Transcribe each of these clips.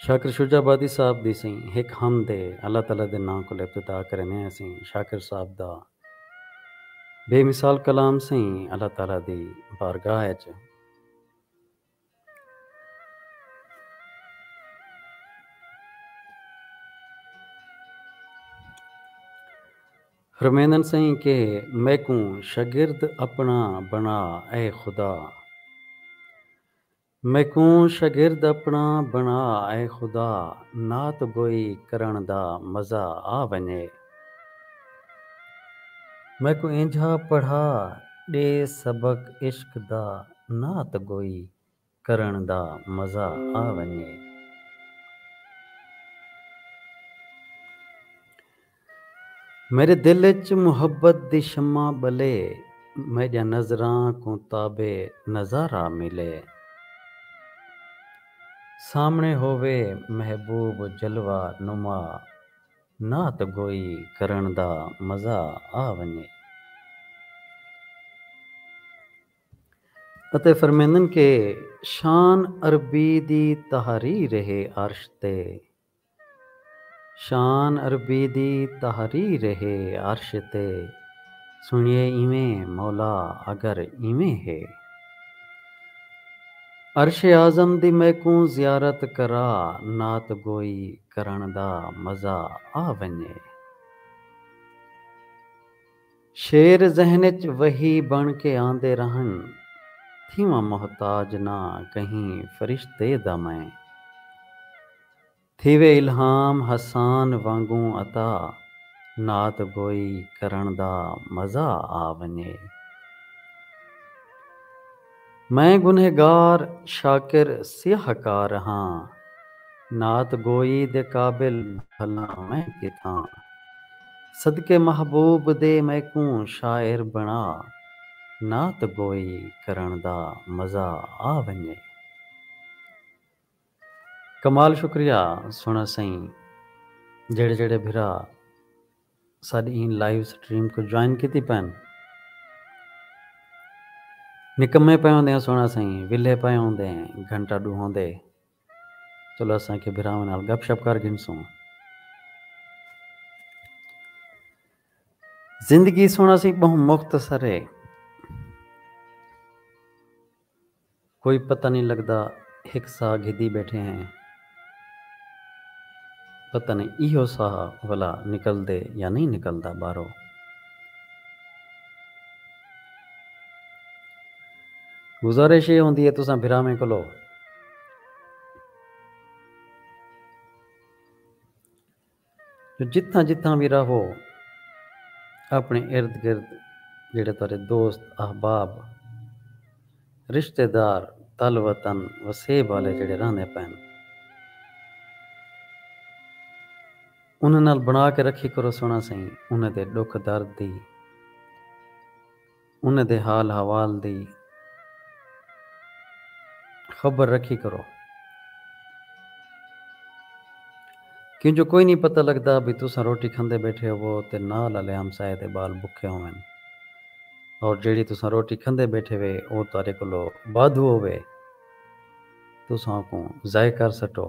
Shakir Shujabadi صاحب دی سیں ہک حمد ہے اللہ تعالی دے ناں کول ابتدا کریندے ہیں اسیں شاکر صاحب دا بے مثال کلام سیں اللہ تعالی دی بارگاہ اچ رمیندن سئیں کہ میکوں شگرد اپݨا بݨا اے خدا میکوں شگرد اپݨا بݨا اے خدا نعت گوئی کرݨ دا مزہ آ ونڄے میکوں اینجھا پڑھا ݙے سبق عشق دا۔ نعت گوئی کرݨ دا مزہ آ ونڄے۔ میݙے دل اچ محبت دی شمع ٻلے۔ میݙیاں نظراں کوں تاب نظارہ ملے۔ سامݨے ہووے محبوب جلوہ نما۔ نعت گوئی کرݨ دا مزہ آ ونڄے۔ اتے فرمیندن کہ شان عربی دی تحریر ہے عرش تے۔ شان عربی دی تحریر ہے عرش تے۔ سنڑیے ایویں مولا اگر ایویں ہے۔ عرش اعظم دی میکوں زیارت کرا نعت گوئی کرݨ دا مزہ آ ونڄے۔ شعر ذہن اچ وحی بݨ کے آندے رہن تھیواں محتاج نہ کہیں فرشتے دا میں تھیوے الہام حسان وانگوں عطا نعت گوئی کرݨ دا مزہ آ ونڄے۔ میں گنہگار شاکر سیاہ کار ہاں۔ نعت گوئی دے قابل بھلا میں کتھاں۔ صدقے محبوب دے میکوں شاعر بݨا۔ نعت گوئی کرݨ دا مزہ آ ونڄے۔ کمال شکریہ سوہݨا سئیں جیڑھے جیڑھے بھرا ساݙی ایں لائیو سٹریم کوں جوائن کیتی پئن نکمے پئے ہوندے ہیں سوہݨا سئیں ویلھے پئے ہوندے ہیں گھنٹہ ݙو ہوندے چلو اساں کے بھراواں نال گپ شپ کر گھنسوں زندگی سوہݨا سئیں ٻہوں مختصر ہے۔ کوئی پتہ نئیں لڳدا ہک ساہ گھدی ٻیٹھے ہیں پتہ نئیں ایہو ساہ ولا نکلدے یا نئیں نکلدا ٻارو گزارش اے ہوندی اے تساں بھراویں کولو جو جتھاں جتھاں وی رہو اپݨے ارد گرد جیڑھے تہاݙے دوست، احباب، رشتے دار، تل وطن، وسیب آلے جیڑھے رہندے پئن انھاں نال بݨا کے رکھی کرو سݨا سئیں انھاں دے ݙکھ درد دی۔ انہاں دے حال حوال دی خبر رکھی کرو۔ کیوں جو کوئی نی پتہ لگدا بھئی تساں روٹی کھندے بیٹھے ہوو تے نال آلے ہمسائے دے بال بکھے ہوون اور جیڑھی تساں روٹی کھندے بیٹھے وے او تہاڈے کولو وادھو ہووے تساں اوکوں ضائع کر سٹو۔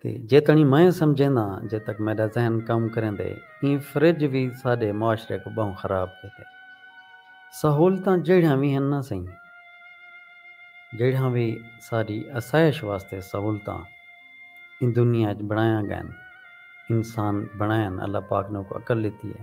تے جیتݨی میں سمجھینداں جے تک میݙا ذہن کم کریندے ایں فرج وی ساݙے معاشرے کوں ٻہوں خراب کیتے۔ سہولتاں جیڑھیاں وی ہن نہ سئیں جیڑھیاں وی ساݙی اسائش واسطے سہولتاں ایں دنیا اچ بݨائیاں ڳئن انسان بݨائن اللہ پاک نوکوں عقل ݙتی اے۔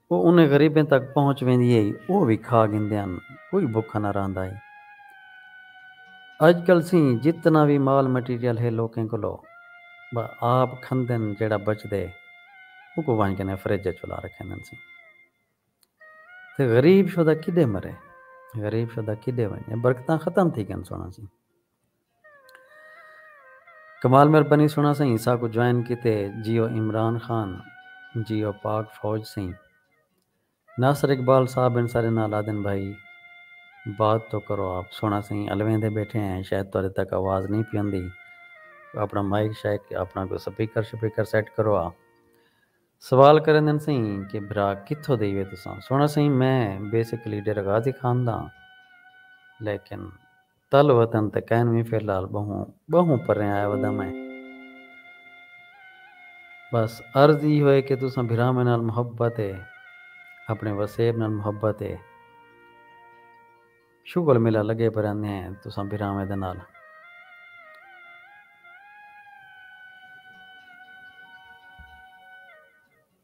او انھیں غریبیں تک پہنچ ویندی ہئی او وی کھا گھندے ہن کوئی بھکھا نہ رہندا ہئی۔ اج کل سئیں جتنا وی مال مٹیریل ہے لوکیں کولو ٻا آپ کھندن جیڑھا بچدے اوکوں ونج کنیں فریج اچ ولا رکھیندن سئیں تے غریب شدہ کیݙے مرے غریب شدہ کیݙے ونڄے برکتاں ختم تھی ڳن سݨاں سئیں۔ کمال مہربانی سونا سئیں ساکوں جوائن کیتے جیو عمران خان جیو پاک فوج سئیں ناصر اقبال صاحب این سارے نال آدھن بھائی بات تو کرو آپ سونا سئیں الویندے بیٹھے ہیں شاید تہاڈے تک آواز نہیں پیندی اپنا مائیک شائیک اپنا کوئی سپیکر شپیکر سیٹ کرو آ سوال کریندن سئیں کہ بھرا کتھوں دے یوے تساں سونا سئیں میں بیسکلی ڈیرہ غازی خان داں لیکن تل وطن تے کائن وی فی الحال ٻہوں ٻہوں پریں آیا ودا میں بس عرض ای ہوئے کہ تساں بھراواں نال محبت اے اپنے وسیب نال محبت اے شغل ملا لگے پراندے ہیں تساں بھراواں دے نال۔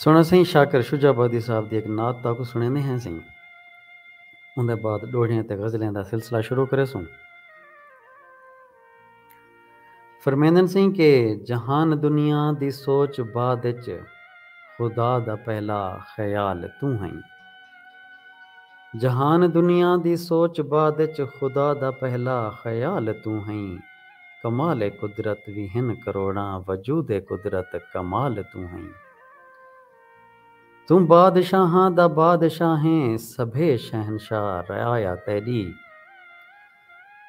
سݨو سئیں شاکر شجاع آبادی صاحب دی ہک نعت تہاکوں سݨیندے ہیں سئیں۔ اوندے بعد ݙوہڑیاں تے غزلیں دا سلسلہ شروع کریسوں۔ فرمیندن سئیں کہ جہان دنیا دی سوچ بعد اچ خدا دا پہلا خیال توں ہئیں۔ جہان دنیا دی سوچ بعد اچ خدا دا پہلا خیال توں ہئیں۔ کمال قدرت وی ہن کروڑاں وجود قدرت کمال توں ہئیں توں بادشاہاں دا بادشاہ ہیں سبھے شہنشاہ رعایا تیڈی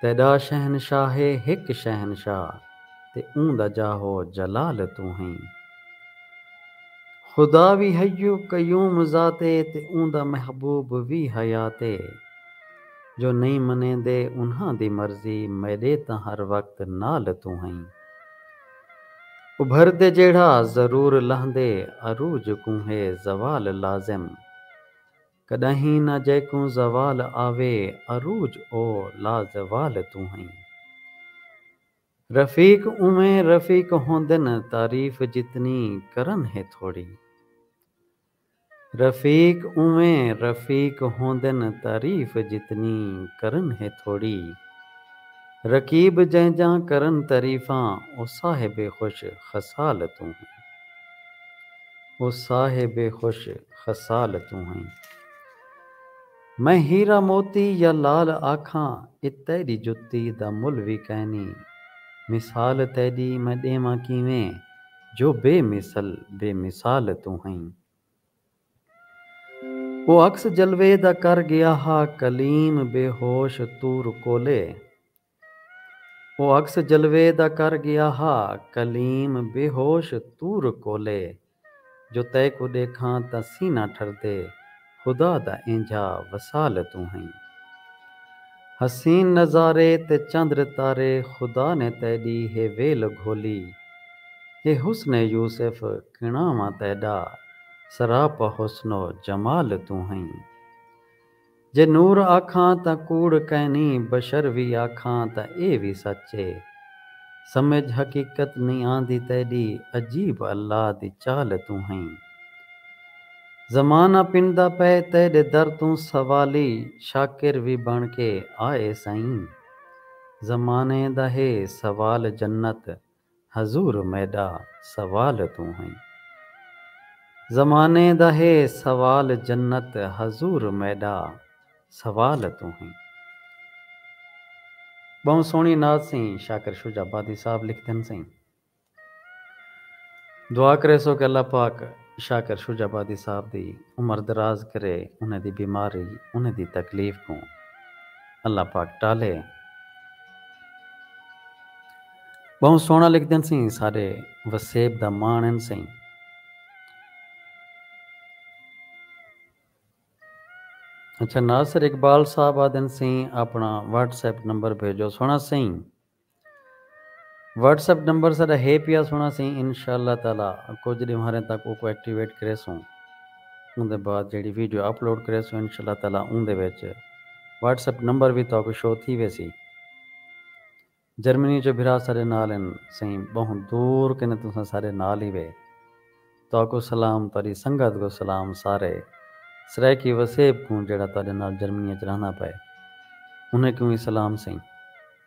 تیڈا شہنشاہ ہے ہک شہنشاہ تے اوں دا جاہ و جلال توں ہئیں خدا وی حی قیوم ذات ہے تے اوں دا محبوب وی حیات ہے۔ جو نئیں منیندے انہاں دی مرضی میݙے تاں ہر وقت نال توں ہئیں ابھردے جیڑھا ضرور لہندے عروج کوں ہے زوال لازم کݙاہیں نہ جیکوں زوال آوے عروج او لازوال توں ہئیں رفیق اونویں رفیق ہوندن تعریف جتنی کرن ہے تھوڑی۔ رفیق اونویں رفیق ہوندن تعریف جتنی کرن ہے تھوڑی رقیب جینجاں کرن تعریفاں او صاحب خوش خصال توں ہیں او صاحب خوش خصال توں ہیں میں ہیرا موتی یا لال آکھاں اے تیڈی جتی دا مل وی کائنی مثال تیڈی میں ڈیواں کیویں جو بے مثل بے مثال توں ہئیں۔ او عکس جلوے دا کر گیا ہا کلیم بے ہوش طور کولے۔ او عکس جلوے دا کر گیا ہا کلیم بے ہوش طور کولے۔ جو تیکوں ݙیکھاں تاں سینہ ٹھردے خدا دا اینجھا وصال توں ہئیں۔ حسین نظارے تے چندر تارے خدا نے تیڈی ہے ویل گھولی۔ ہے حسن یوسف کݨاواں تیڈا سراپا حسن و جمال توں ہئیں۔ جے نور آکھاں تاں کوڑ کائنی بشر وی آکھاں تاں اے وی سچ اے۔ سمجھ حقیقت نئیں آندی تیڈی عجیب اللہ دی چال توں ہئیں۔ زمانہ پندا پئے تیڈے در توں سوالی شاکر وی بن کے آئے سئیں زمانے دا ہے سوال جنت حضور میڈا سوال توں ہئیں زمانے دا ہے سوال جنت حضور میڈا سوال توں ہئیں۔ ٻہوں سوہݨی نعت سئیں شاکر شجاع آبادی صاحب لکھدن سئیں۔ دعا کریسوں کہ اللہ پاک شاکر شجاع آبادی صاحب دی عمر دراز کرے، انہیں دی بیماری، انہیں دی تکلیف کوں اللہ پاک ٹالے۔ بہوں سوہنڑا لکھدن سیں ساڈے وسیب دا ماݨ ہن سئیں۔ اچھا ناصر اقبال صاحب آدھن سیں اپنڑاں واٹس ایپ نمبر بھیجو سوہنڑا سئیں۔ واٹس ایپ نمبر ساڈا ہے پیا سنڑا سیں انشاء اللہ تعالی کجھ ڈیوہاریں تک اوکوں ایکٹیویٹ کریسوں اوندے بعد جیڑھی ویڈیو اپلوڈ کریسوں انشاء اللہ تعالی اوندے وچ واٹس ایپ نمبر وی تہاکوں شو تھی ویسی جرمنی چوں بھرا ساڈے نال ہن سیں بہوں دور کنے تساں ساڈے نال ہی وے تہاکوں سلام تہاڈی سنگت کوں سلام سارے سرائیکی وسیب کوں جیڑھا تہاڈے نال جرمنی وچ رہندا پئے انہیں کوں وی سلام سیں۔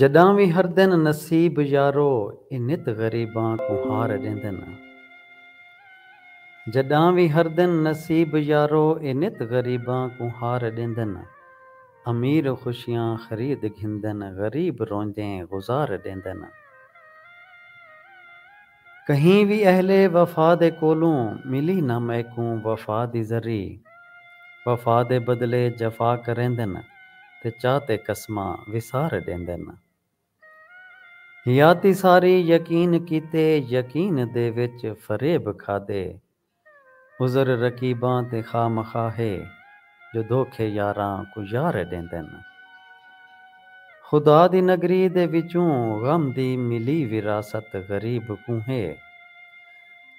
جڈاں وی ہردن نصیب یارو اے نت غریباں کوں ہار ڈیندن جڈاں وی ہردن نصیب یارو اے نت غریباں کوں ہار ڈیندن امیر خوشیاں خرید گھندن غریب روندیں گزار ڈیندن۔ کہیں وی اہل وفا دے کولوں ملی نہ میکوں وفا دی ذری وفا دے بدلے جفا کریندن تے چا تے قسماں وسار ڈیندن حیاتی ساری یقین کیتے یقین دے وچ فریب کھادے عذر رقیباں تے خواہ مخواہ ہے جو دھوکھے یاراں کوں یار ڈیندن۔ خدا دی نگری دے وچوں غم دی ملی وراثت غریب کوں ہے۔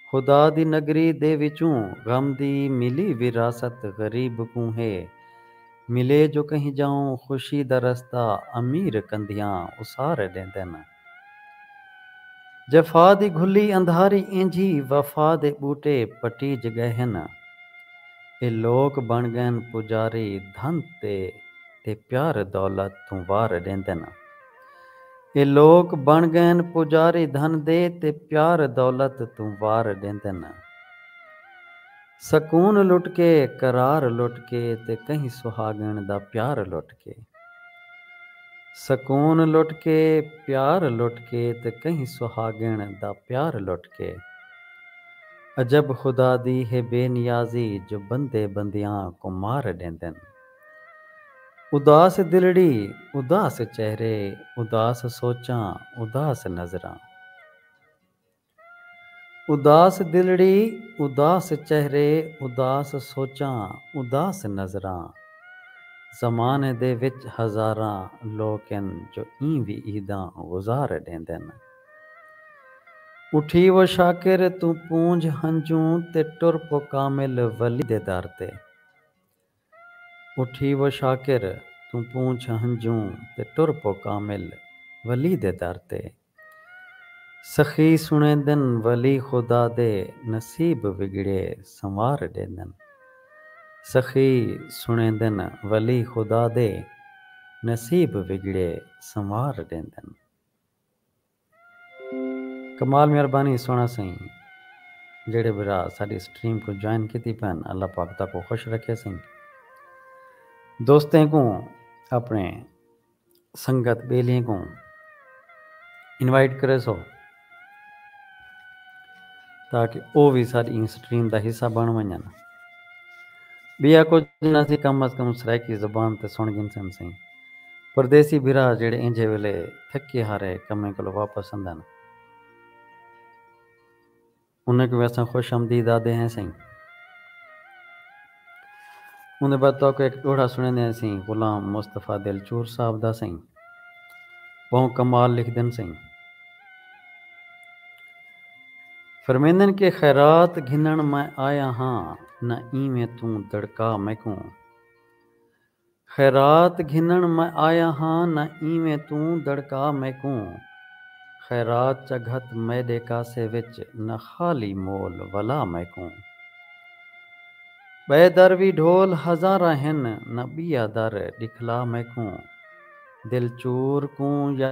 خدا دی نگری دے وچوں غم دی ملی وراثت غریب کوں ہے۔ ملے جو کہیں جاؤں خوشی دا رستہ امیر کندھیاں اسار ڈیندن۔ جفا دی گھلی اندھاری اینجھی وفا دے ٻوٹے پٹیج ڳئے ہن اے لوک بݨ ڳئن پجاری دھن تے تے پیار دولت توں وار ݙیندن اے لوک بݨ ڳئن پجاری دھن دے تے پیار دولت توں وار ݙیندن۔ سکون لٹ کے قرار لٹ کے تے کہیں سہاگݨ دا پیار لٹ کے سکون لٹ کے پیار لٹ کے تے کہیں سہاگݨ دا پیار لٹ کے عجب خدا دی ہے بے نیازی جو بندے بندیاں کوں مار ݙیندن اداس دلڑی اداس چہرے اداس سوچاں اداس نظراں۔ اداس دلڑی، اداس چہرے، اداس سوچاں، اداس نظراں۔ زمانے دے وچ ہزاراں لوک ہن جو ایں وی عیداں گزار ڈیندن۔ اٹھی و شاکر توں پونجھ ہنجوں تے ٹر پو کامل ولی دے در تے۔ اٹھی و شاکر توں پونچھ ہنجوں تے ٹر پو کامل ولی دے در تے۔ سخی سنڑیندن ولی خدا دے نصیب وگڑے سنوار ڈیندن۔ سخی سنڑیندن ولی خدا دے نصیب وگڑے سنوار ڈیندن۔ کمال مہربانی سونا سئیں جیڑھے بھرا ساڈی سٹریم کوں جوائن کیتی پن اللہ پاک تاکوں خوش رکھے سئیں دوستیں کوں اپنے سنگت بیلیاں کوں انوائٹ کرے سو تاکہ او وی ساڈی این سٹریم دا حصہ بن ونجن بیا کچھ نہ سی کم از کم سرائیکی زبان تے سن گھنسن سئیں پردیسی بھرا جیڑھے اینجھے ویلے تھکے ہارے کمیں کولو واپس اندن انہیں کوں وی اساں خوش آمدید آدھے ہیں سئیں۔ اوندے بعد تہاکوں ہک ڈوہڑا سنڑیندے ہیں سئیں غلام مصطفی دلچور صاحب دا سئیں۔ بہوں کمال لکھدن سئیں۔ فرمیندن کہ خیرات گھنن میں آیا ہاں نہ اینویں توں دڑکا میکوں خیرات گھنݨ میں آیا ہاں نہ اینویں توں دڑکا میکوں خیرات چا گھت میݙے کاسے وچ نہ خالی مول ولا میکوں ٻئے در وی ڈھول ہزاراں ہن نہ ٻیا در ݙکھلا میکوں دل چور کوں یا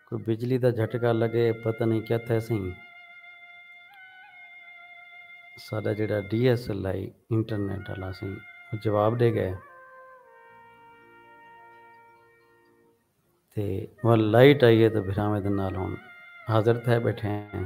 کوئی بجلی دا جھٹکا لگے پتہ نئیں کیا تھیسیں ساڈا جیڑھا D S L I internet آلا سی او جواب ڈے گئے تے ول لائٹ آئی ہے تو بھراویں دے نال ہن حاضر تھے بیٹھے ہیں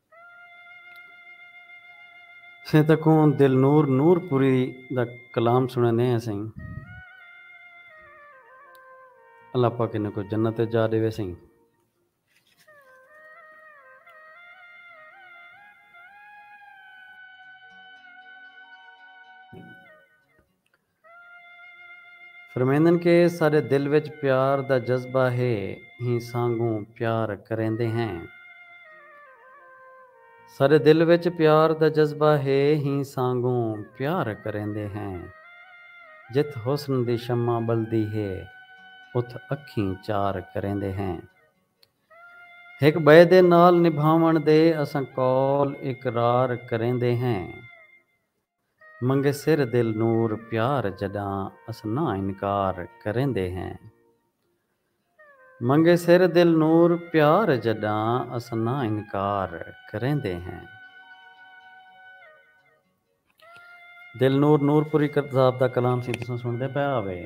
سئیں تکوں دلنور نور پوری دا کلام سنڑے نے ہیں سئیں اللہ پاک انہاں کو جنت جا ڈیوے سئیں فرمیندن کہ ساڈے دل وچ پیار دا جذبہ ہے ہی سانگوں پیار کریندے ہیں۔ ساڈے دل وچ پیار دا جذبہ ہے ہی سانگوں پیار کریندے ہیں۔ جتھ حسن دی شمع بلدی ہے اتھ اکھیں چار کریندے ہیں۔ ہک بئے دے نال نبھاون دے اساں قول اقرار کریندے ہیں۔ منگے سر دل نور پیار جڈاں اس نہ انکار کریندے ہیں منگے سر دل نور پیار جڈاں اس نہ انکار کریندے ہیں دل نور نور پوری کرد صاحب دا کلام سی تساں سنڑدے پئے آوے۔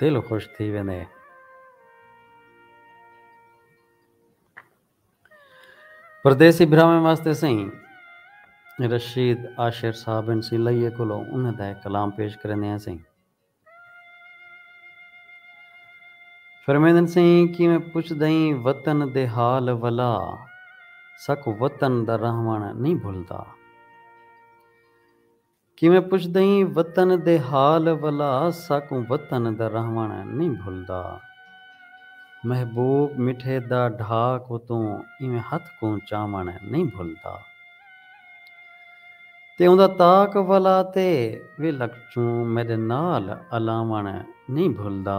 دل خوش تھی ویندے۔ پردیسی بھراواں واسطے سئیں رشید عاشر صاحب این سی لئیے کولو انہاں دا ہک کلام پیش کریندے ہیں سئیں۔ فرمیندن سئیں کیویں پچھدئیں وطن دے حال ولا ساکوں وطن دا رہوݨ نئیں بھلدا۔ کیویں پچھدئیں وطن دے حال ولا ساکوں وطن دا رہوݨ نئیں بھلدا محبوب مٹھے دا ڈھا کوں توں ایویں ہتھ کوں چاوݨ نئیں بھلدا تے اوندا طاق ولا تے ویلک چوں میڈے نال الاوݨ نئیں بھلدا۔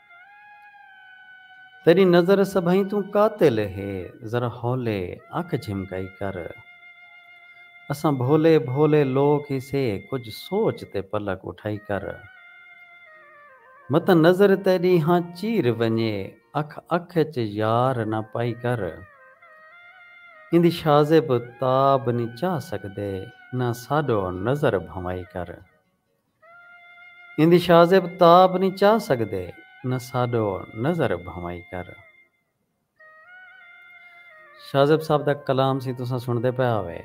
تیݙی نظر سبھئیں توں قاتل ہے ذرا ہولے اکھ جھمکائی کر اساں بھولے بھولے لوک ہیسے کجھ سوچ تے پلک اٹھائی کر متاں نظر تیݙی ہاں چیر ونڄے اکھ اکھ اچ یار نہ پائی کر ایندی شازب تاب نی چا سڳدے نہ ساݙو نظر بھنوائی کر۔ ایندی شازیب تاب نی چا سگدے نہ ساڈو نظر بھنوائی کر۔ شازیب صاحب دا کلام سی تساں سنڑدے پئے ہاوے۔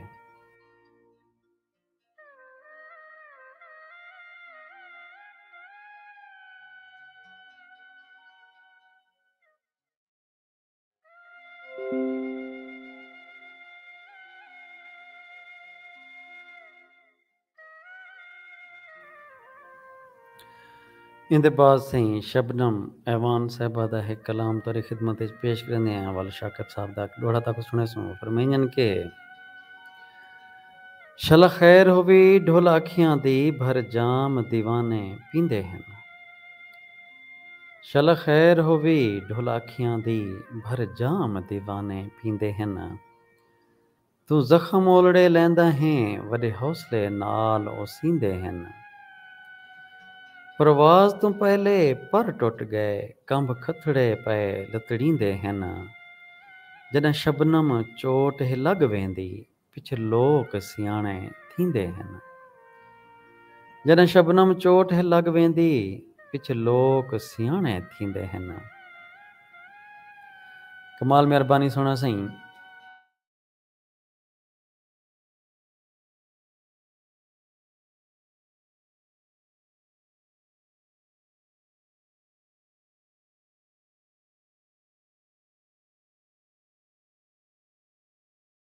ایندے بعد سئیں شبنم اعوان صاحبہ دا ہک کلام تہاݙی خدمت وچ پیش کریندے ہیں، ول شاکر صاحب دا ہک ݙوہڑا تہاکوں سݨیسوں۔ او فرمائیندن کہ۔ شلا خیر ہووی ڈھل اکھیاں دی بھر جام دیوانے پیندے ہن۔ شلا خیر ہووی ڈھل اکھیاں دی بھر جام دیوانے پیندے ہن۔ توں زخم اولڑے لیندا ہیں وڈے حوصلے نال او سیندے ہن۔ پرواز توں پہلے پر ٹٹ گئے کنبھ کھتھڑے پئے لتڑیندے ہن۔ جڈاں شبنم چوٹ ہے لگ ویندی پچھے لوک سیاݨے تھیندے ہن۔ جݙاں شبنم چوٹ ہے لڳ ویندی پچھے لوک سیاݨے تھیندے ہن۔ کمال مہربانی سوہݨا سئیں۔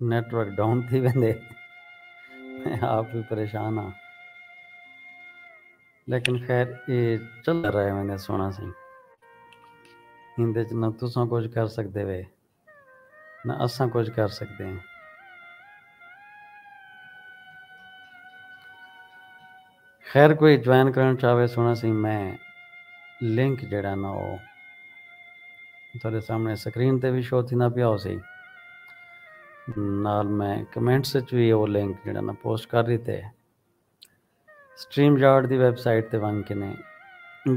نیٹ ورک ڈاؤن تھی ویندے میں آپ بھی پریشان ہاں لیکن خیر اے چلدا رہے ویندے سونا سی ایندے وچ نہ تساں کچھ کر سکدے وے نہ اساں کچھ کر سکدے ہیں خیر کوئی جوائن کرݨ چاہوے سوہݨا سئیں میں لنک جیڑھا نا او تہاݙے سامݨے سکرین تے وی شو تھیندا پیا ہوسی نال میں کمنٹس اچ وی او لنک جیڑھا نا پوسٹ کر ݙتے سٹریم یارڈ دی ویب سائٹ تے ونڄ کے نے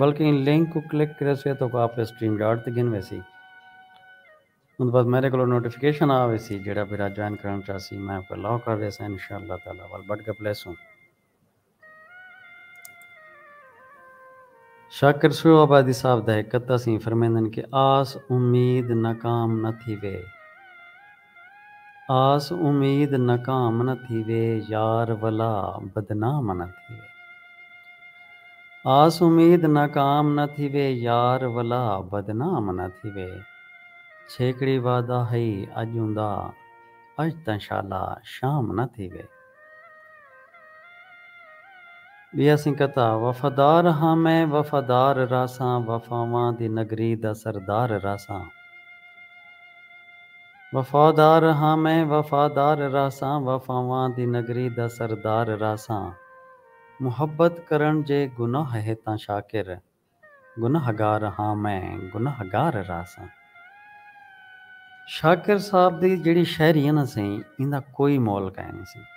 بلکہ ایں لنک کوں کلک کریسے تاں کو آپے سٹریم یارڈ تے گھن ویسی اوں بعد میݙے کولو نوٹیفکیشن آ ویسی جیڑھا بھرا جوائن کرݨ چاہسی میں اوکوں الاؤ کر ݙیساں انشاءاللہ تعالی ول بڈ گپلے سوں۔ شاکر سویو آبادی صاحب دا ہک قطعہ سی فرمیندن کہ آس امید ناکام نہ تھیوے۔ آس امید ناکام نہ تھیوے یار ولا بدنام نہ تھیوے۔ آس امید ناکام نہ تھیوے یار ولا بدنام نہ تھیوے چھیکڑی وعدہ ہئی اج اوندا اج تاں شالا شام نہ تھیوے۔ ٻیا سنگتاں وفادار ہاں میں وفادار رہساں وفاواں دی نگری دا سردار رہساں وفادار ہاں میں وفادار رہساں وفاواں دی نگری دا سردار رہساں محبت کرݨ جے گناہ ہے تاں شاکر گنہگار ہاں میں گنہہ گار رہساں۔ شاکر صاحب دی جیڑھی شاعری ہے نا سئیں ایندا کوئی مول کائے نی سئیں۔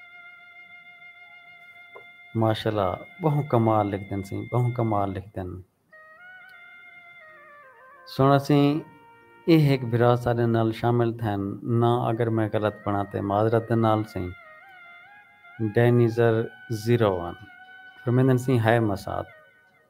ماشاءاللہ بہوں کمال لکھدن سئیں بہوں کمال لکھدن۔ سنڑاں سئیں اے ہک بھرا ساڈے نال شامل تھئن نا اگر میں غلط بنڑاں تے معذرت دے نال سئیں۔ ڈینیزر زیرو ون فرمیندن سئیں ہائے مسات۔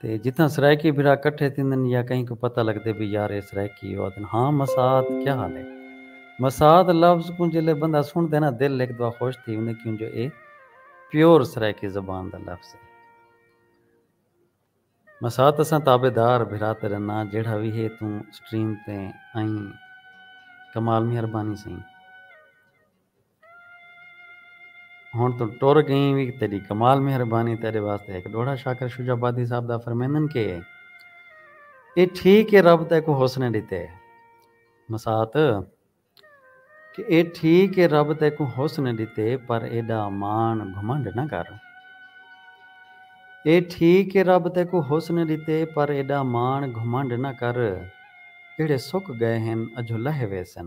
تے جتھاں سرائیکی بھرا کٹھے تھیندن یا کہیں کوں پتہ لگدے بھئی یار اے سرائیکی اے او آدھن ہاں مساعد کیا حال ہے۔ مساعد لفظ کوں جیلے بندہ سنڑدے نا دل ہک دوا خوش تھی ویندے کیوں جو اے پیور سرائیکی زبان دا لفظ ہے۔ مساعد اساں تابع دار بھرا تے رناں جیڑھا وی ہے توں سٹریم تے آئیں کمال مہربانی سئیں۔ ہݨ توں ٹر ڳئیں وی تیݙی کمال مہربانی تیݙے واسطے ہک ݙوہڑا شاکر شجاع آبادی صاحب دا فرمیندن کہ اے ٹھیک اے رب تیکوں حسن ݙتے مسات کہ اے ٹھیک اے رب تیکوں حسن ݙتے پر ایݙا ماݨ گھمنڈ نہ کر اے ٹھیک اے رب تیکوں حسن ݙتے پر ایݙا ماݨ گھمنڈ نہ کر جیڑھے سک ڳئے ہن اجھو لہہ ویسن۔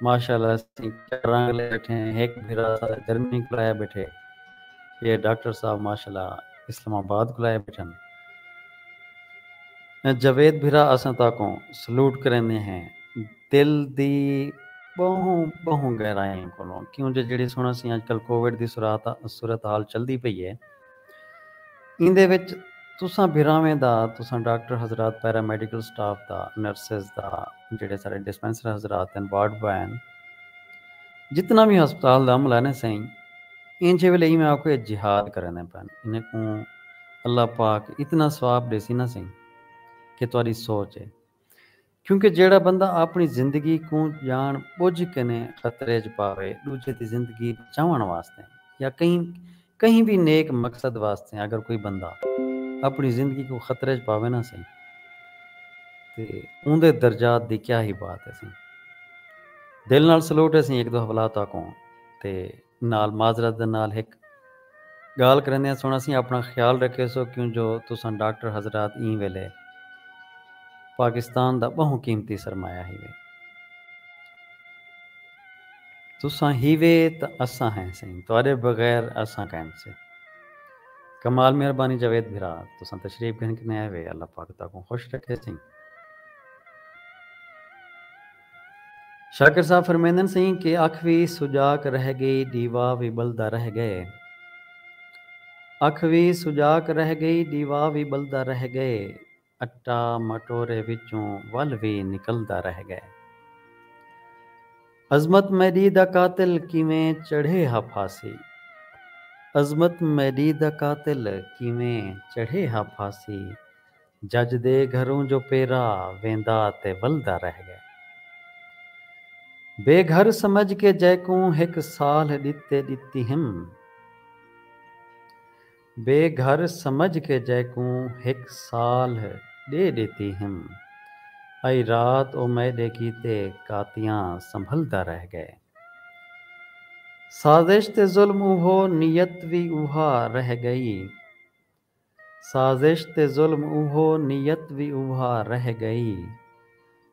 ماشاءاللہ اسیں کیا رنگ لے بیٹھے ہیں ہک بھیرا اساں جرمنی کولوں آیا بیٹھے یہ ڈاکٹر صاحب ماشاءاللہ اسلام آباد کولوں آیا بیٹھن جاوید بھیرا اساں تاکوں سلوٹ کریندے ہیں دل دی بہوں بہوں گہرائیں کولوں کیوں جو جیڑھی سن اسیں اج کل کوویڈ دی صورتحال چلدی پئی ہے ایندے وچ تساں بھراویں دا، تساں ڈاکٹر حضرات، پیرا میڈیکل سٹاف دا، نرسز دا، جیہڑے سارے ڈسپنسر حضرات ہن، وارڈ بوائے ہن، جتنا وی ہسپتال دا عملہ ہے نا سئیں، اینجھے ویلے ایویں آکھو ایہ جہاد کریندے پئن، انہیں کوں اللہ پاک اتنا ثواب ݙیسی نا سئیں کہ تہاݙی سوچ ہے۔ کیونکہ جیہڑا بندہ آپݨی زندگی کوں ڄاݨ ٻجھ کنیں خطرے اچ پاوے، ݙوجھے دی زندگی بچاوݨ واسطے یا کہیں کہیں وی نیک مقصد واسطے اگر کوئی بندہ آپݨی زندگی کوں خطرے اچ پاوے نہ سئیں تے اوندے درجات دی کیا ہی بات ہے سئیں۔ دل نال سلوٹ ہے سئیں ہک دو حوالہ تہاکوں تے نال معذرت دے نال ہک گالھ کریندیاں سنڑاسیں اپنڑاں خیال رکھیسو کیوں جو تساں ڈاکٹر حضرات ایں ویلے پاکستان دا بہوں قیمتی سرمایہ ہیوے تساں ہیوے تاں اساں ہیں سئیں تہاڈے بغیر اساں کائن سے کمال مہربانی جاوید بھرا تساں تشریف گھن کنیں آئے وے اللہ پاک تہاکوں خوش رکھے سئیں۔ شاکر صاحب فرمیندن سئیں کہ اکھ وی سجاک رہ گئی ڈیوا وی بلدا رہ گئے اکھ وی سجاک رہ گئی ڈیوا وی بلدا رہ گئے اٹا مٹورے وچوں ول وی نکلدا رہ گئے عظمت میڈی دا قاتل کیویں چڑھے ہا پھاسی عظمت میڈی دا قاتل کیویں چڑھے ہا پھاسی۔ جج دے گھروں جو پیرا ویندا تے ولدا رہ گئے۔ بے گھر سمجھ کے جیکوں ہک سالھ ڈتے ڈتی ہم۔ بے گھر سمجھ کے جیکوں ہک سالھ ڈے ڈتی ہم۔ ائی رات او میڈے کیتے کاتیاں سنبھلدا رہ گئے۔ سازش تے ظلم اوہو نیت وی اوہا رہ گئی۔ سازش تے ظلم اوہو نیت وی اوہا رہ گئی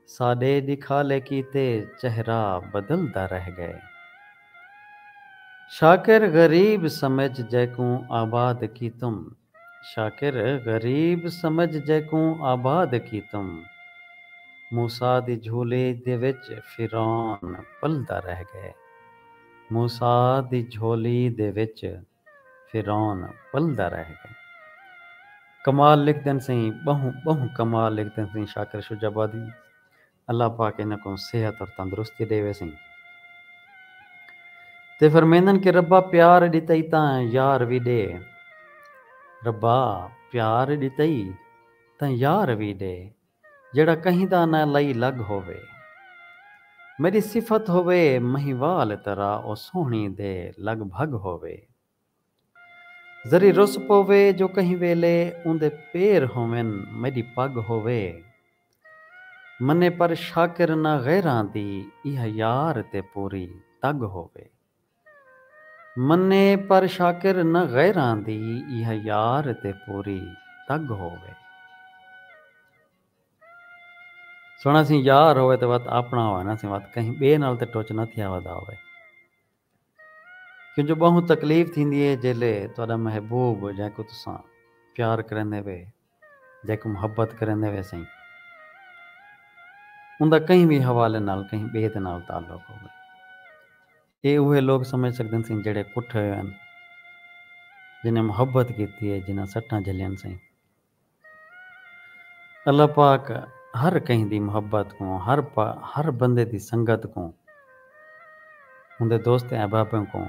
ساڈے دکھالے کیتے چہرہ بدلدا رہ گئے شاکر غریب سمجھ جیکوں آباد کیتم شاکر غریب سمجھ جیکوں آباد کیتم موسی دی جھولی دے وچ فرعون پلدا رہ گئے موسی دی جھولی دے وچ۔ فرعون پلدا رہ گئے۔ کمال لکھدن سئیں ٻہوں ٻہوں کمال لکھدن سئیں شاکر شجاع آبادی اللہ پاک انہاں کوں صحت اور تندرستی ݙیوے سئیں تے فرمیندن کہ ربا پیار ݙتئی تاں یار وی ݙے ربا پیار ݙتئی تاں یار وی ݙے جیڑھا کہیں دا نہ لئی لگ ہووے۔ میݙی صفت ہووے مہیوال طرح او سوہݨی دے لڳ بھڳ ہووے۔ ذری رس پووے جو کہیں ویلے اوندے پیر ہوون میݙی پڳ ہووے۔ منیں پر شاکر نہ غیراں دی ایہا یار تے پوری تڳ ہووے۔ منے پر شاکر نہ غیراں دی ایہا یار تے پوری تگ ہووے۔ سنڑاں سیں یار ہووے تے وت آپنڑاں ہووے نہ سیں وت کہیں بئے نال تے ٹچ نہ تھیا ودا ہووے۔ کیوں جو بہوں تکلیف تھیندی ہے جیلے تہاڈا محبوب جینکوں تساں پیار کریندے وے جیکوں محبت کریندے ویسئیں اوندا کہیں وی حوالے نال کہیں ٻئے دے نال تعلق ہووے۔ ایہ اوہے لوک سمجھ سڳدن سئیں جیڑھے کٹھے ہوئے ہن، جنھاں محبت کیتی ہے، جنھاں سٹاں جھلیاں سئیں۔ اللہ پاک ہر کہیں دی محبت کوں، ہر بندے دی سنگت کوں، اوندے دوست احبابیں کوں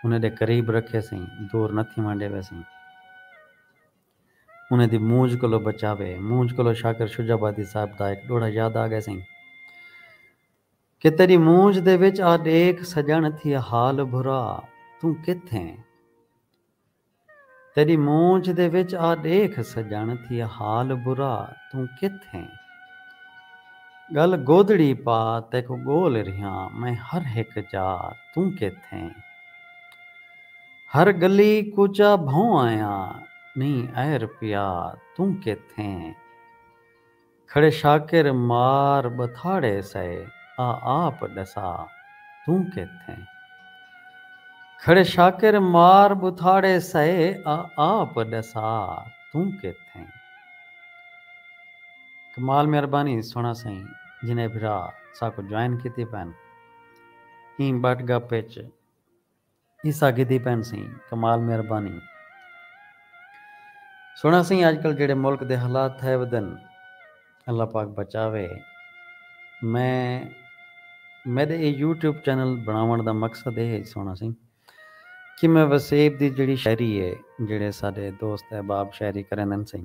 انھاں دے قریب رکھے سئیں، دور نہ تھیوݨ ݙیوے سئیں۔ انہیں دی مونجھ کولو بچاوے۔ مونجھ کولو شاکر شجاع آبادی صاحب دا ہک ݙوہڑا یاد آ ڳئے سئیں۔ کہ تیݙی مونجھ دے وچ آ ݙیکھ سڄݨ تھی حال بھرا توں کتھ ایں۔ تیݙی مونجھ دے وچ آ ݙیکھ سڄݨ تھی حال بھرا توں کتھ ایں۔ ڳل گودڑی پا تیکوں ڳول ریہاں میں ہر ہک جا توں کتھ ایں۔ ہر گلی کوچہ بھوں آیاں نی اے رپیا توں کیتھیں کھڑے شاکر مار ٻتھاڑے سئے آ آپ ݙسا توں کیتھیں کھڑے شاکر مار ٻتھاڑے سئے آ آپ ݙسا توں کیتھیں۔ کمال مہربانی سونا سائیں جنہیں بھرا ساکوں جوائن کیتی پن ایں بٹ گپ اچ۔ عیسیٰ گھدی پین سیں کمال مہربانی سنڑا سیں اج کل جیڑھے ملک دے حالات تھئے ودن اللہ پاک بچاوے میں میڈے اے یوٹیوب چینل بنڑاونڑ دا مقصد اے ہج سنڑا سیں کہ میں وسیب دی جیڑھی شاعری اے جیڑھے ساڈے دوست احباب شاعری کریندن سیں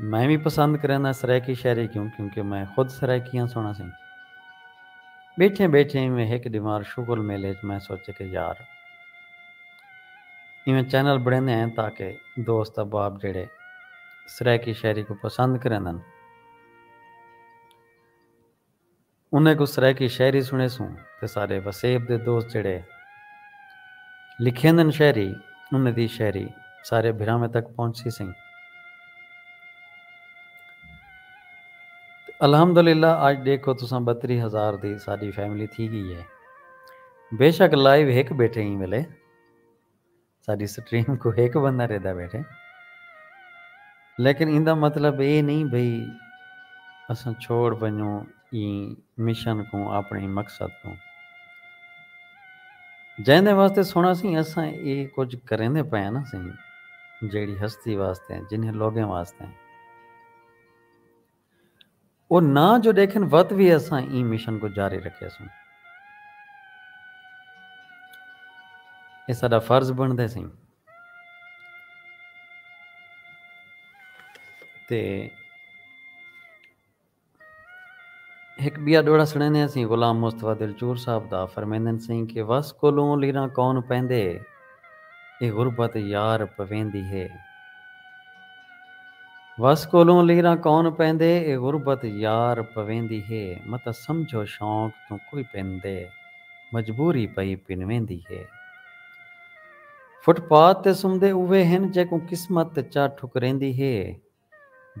میں وی پسند کرینداں سرائیکی شاعری کوں کیونکہ میں خود سرائیکی آں سونا سئیں بیٹھیں بیٹھیں ایویں ہک ڈیمار شغل میلے اچ میں سوچے کہ یار ایویں چینل بنڑیندے ہیں تاکہ دوست احباب جیڑھے سرائیکی شاعری کوں پسند کریندن۔ انہیں کوں سرائیکی شاعری سنڑیسوں تے سارے وسیب دے دوست جیڑھے لکھیندن شاعری انہیں دی شاعری سارے بھراویں تک پہنچسی سئیں۔ تے الحمدللہ اج ڈیکھو تساں بتری ہزار دی ساڈی فیملی تھی گئی ہے۔ بیشک لائیو ہک بیٹھے ایں ویلے۔ ساݙی سٹریم کوں ہک بندہ ݙیہدا ٻیٹھے لیکن ایندا مطلب ایہ نئیں بھئی اساں چھوڑ ونڄوں ایں مشن کوں آپݨیں مقصد کوں جیندے واسطے سݨا سئیں اساں ایہ کجھ کریندے پئے ہاں نا سئیں جیڑھی ہستی واسطے جنھیں لوگیں واسطے۔ او نہ جو ݙیکھن وت وی اساں ایں مشن کوں جاری رکھیسوں۔ اے ساݙا فرض بݨدے سئیں تے ہک ٻیا ݙوہڑا سݨیندے ہسیں غلام مصطفی دلچور صاحب دا فرمیندن سئیں کہ وس کولوں لیراں کون پیندے۔ اے غربت یار پویندی ہے۔ وس کولوں لیراں کون پیندے اے غربت یار پویندی ہے۔ متاں سمجھو شوق توں کوئی پیندے مجبوری پئی پنویندی ہے۔ فٹ پاتھ تے سمدے اوہے ہن جیکوں قسمت چا ٹھکریندی ہے۔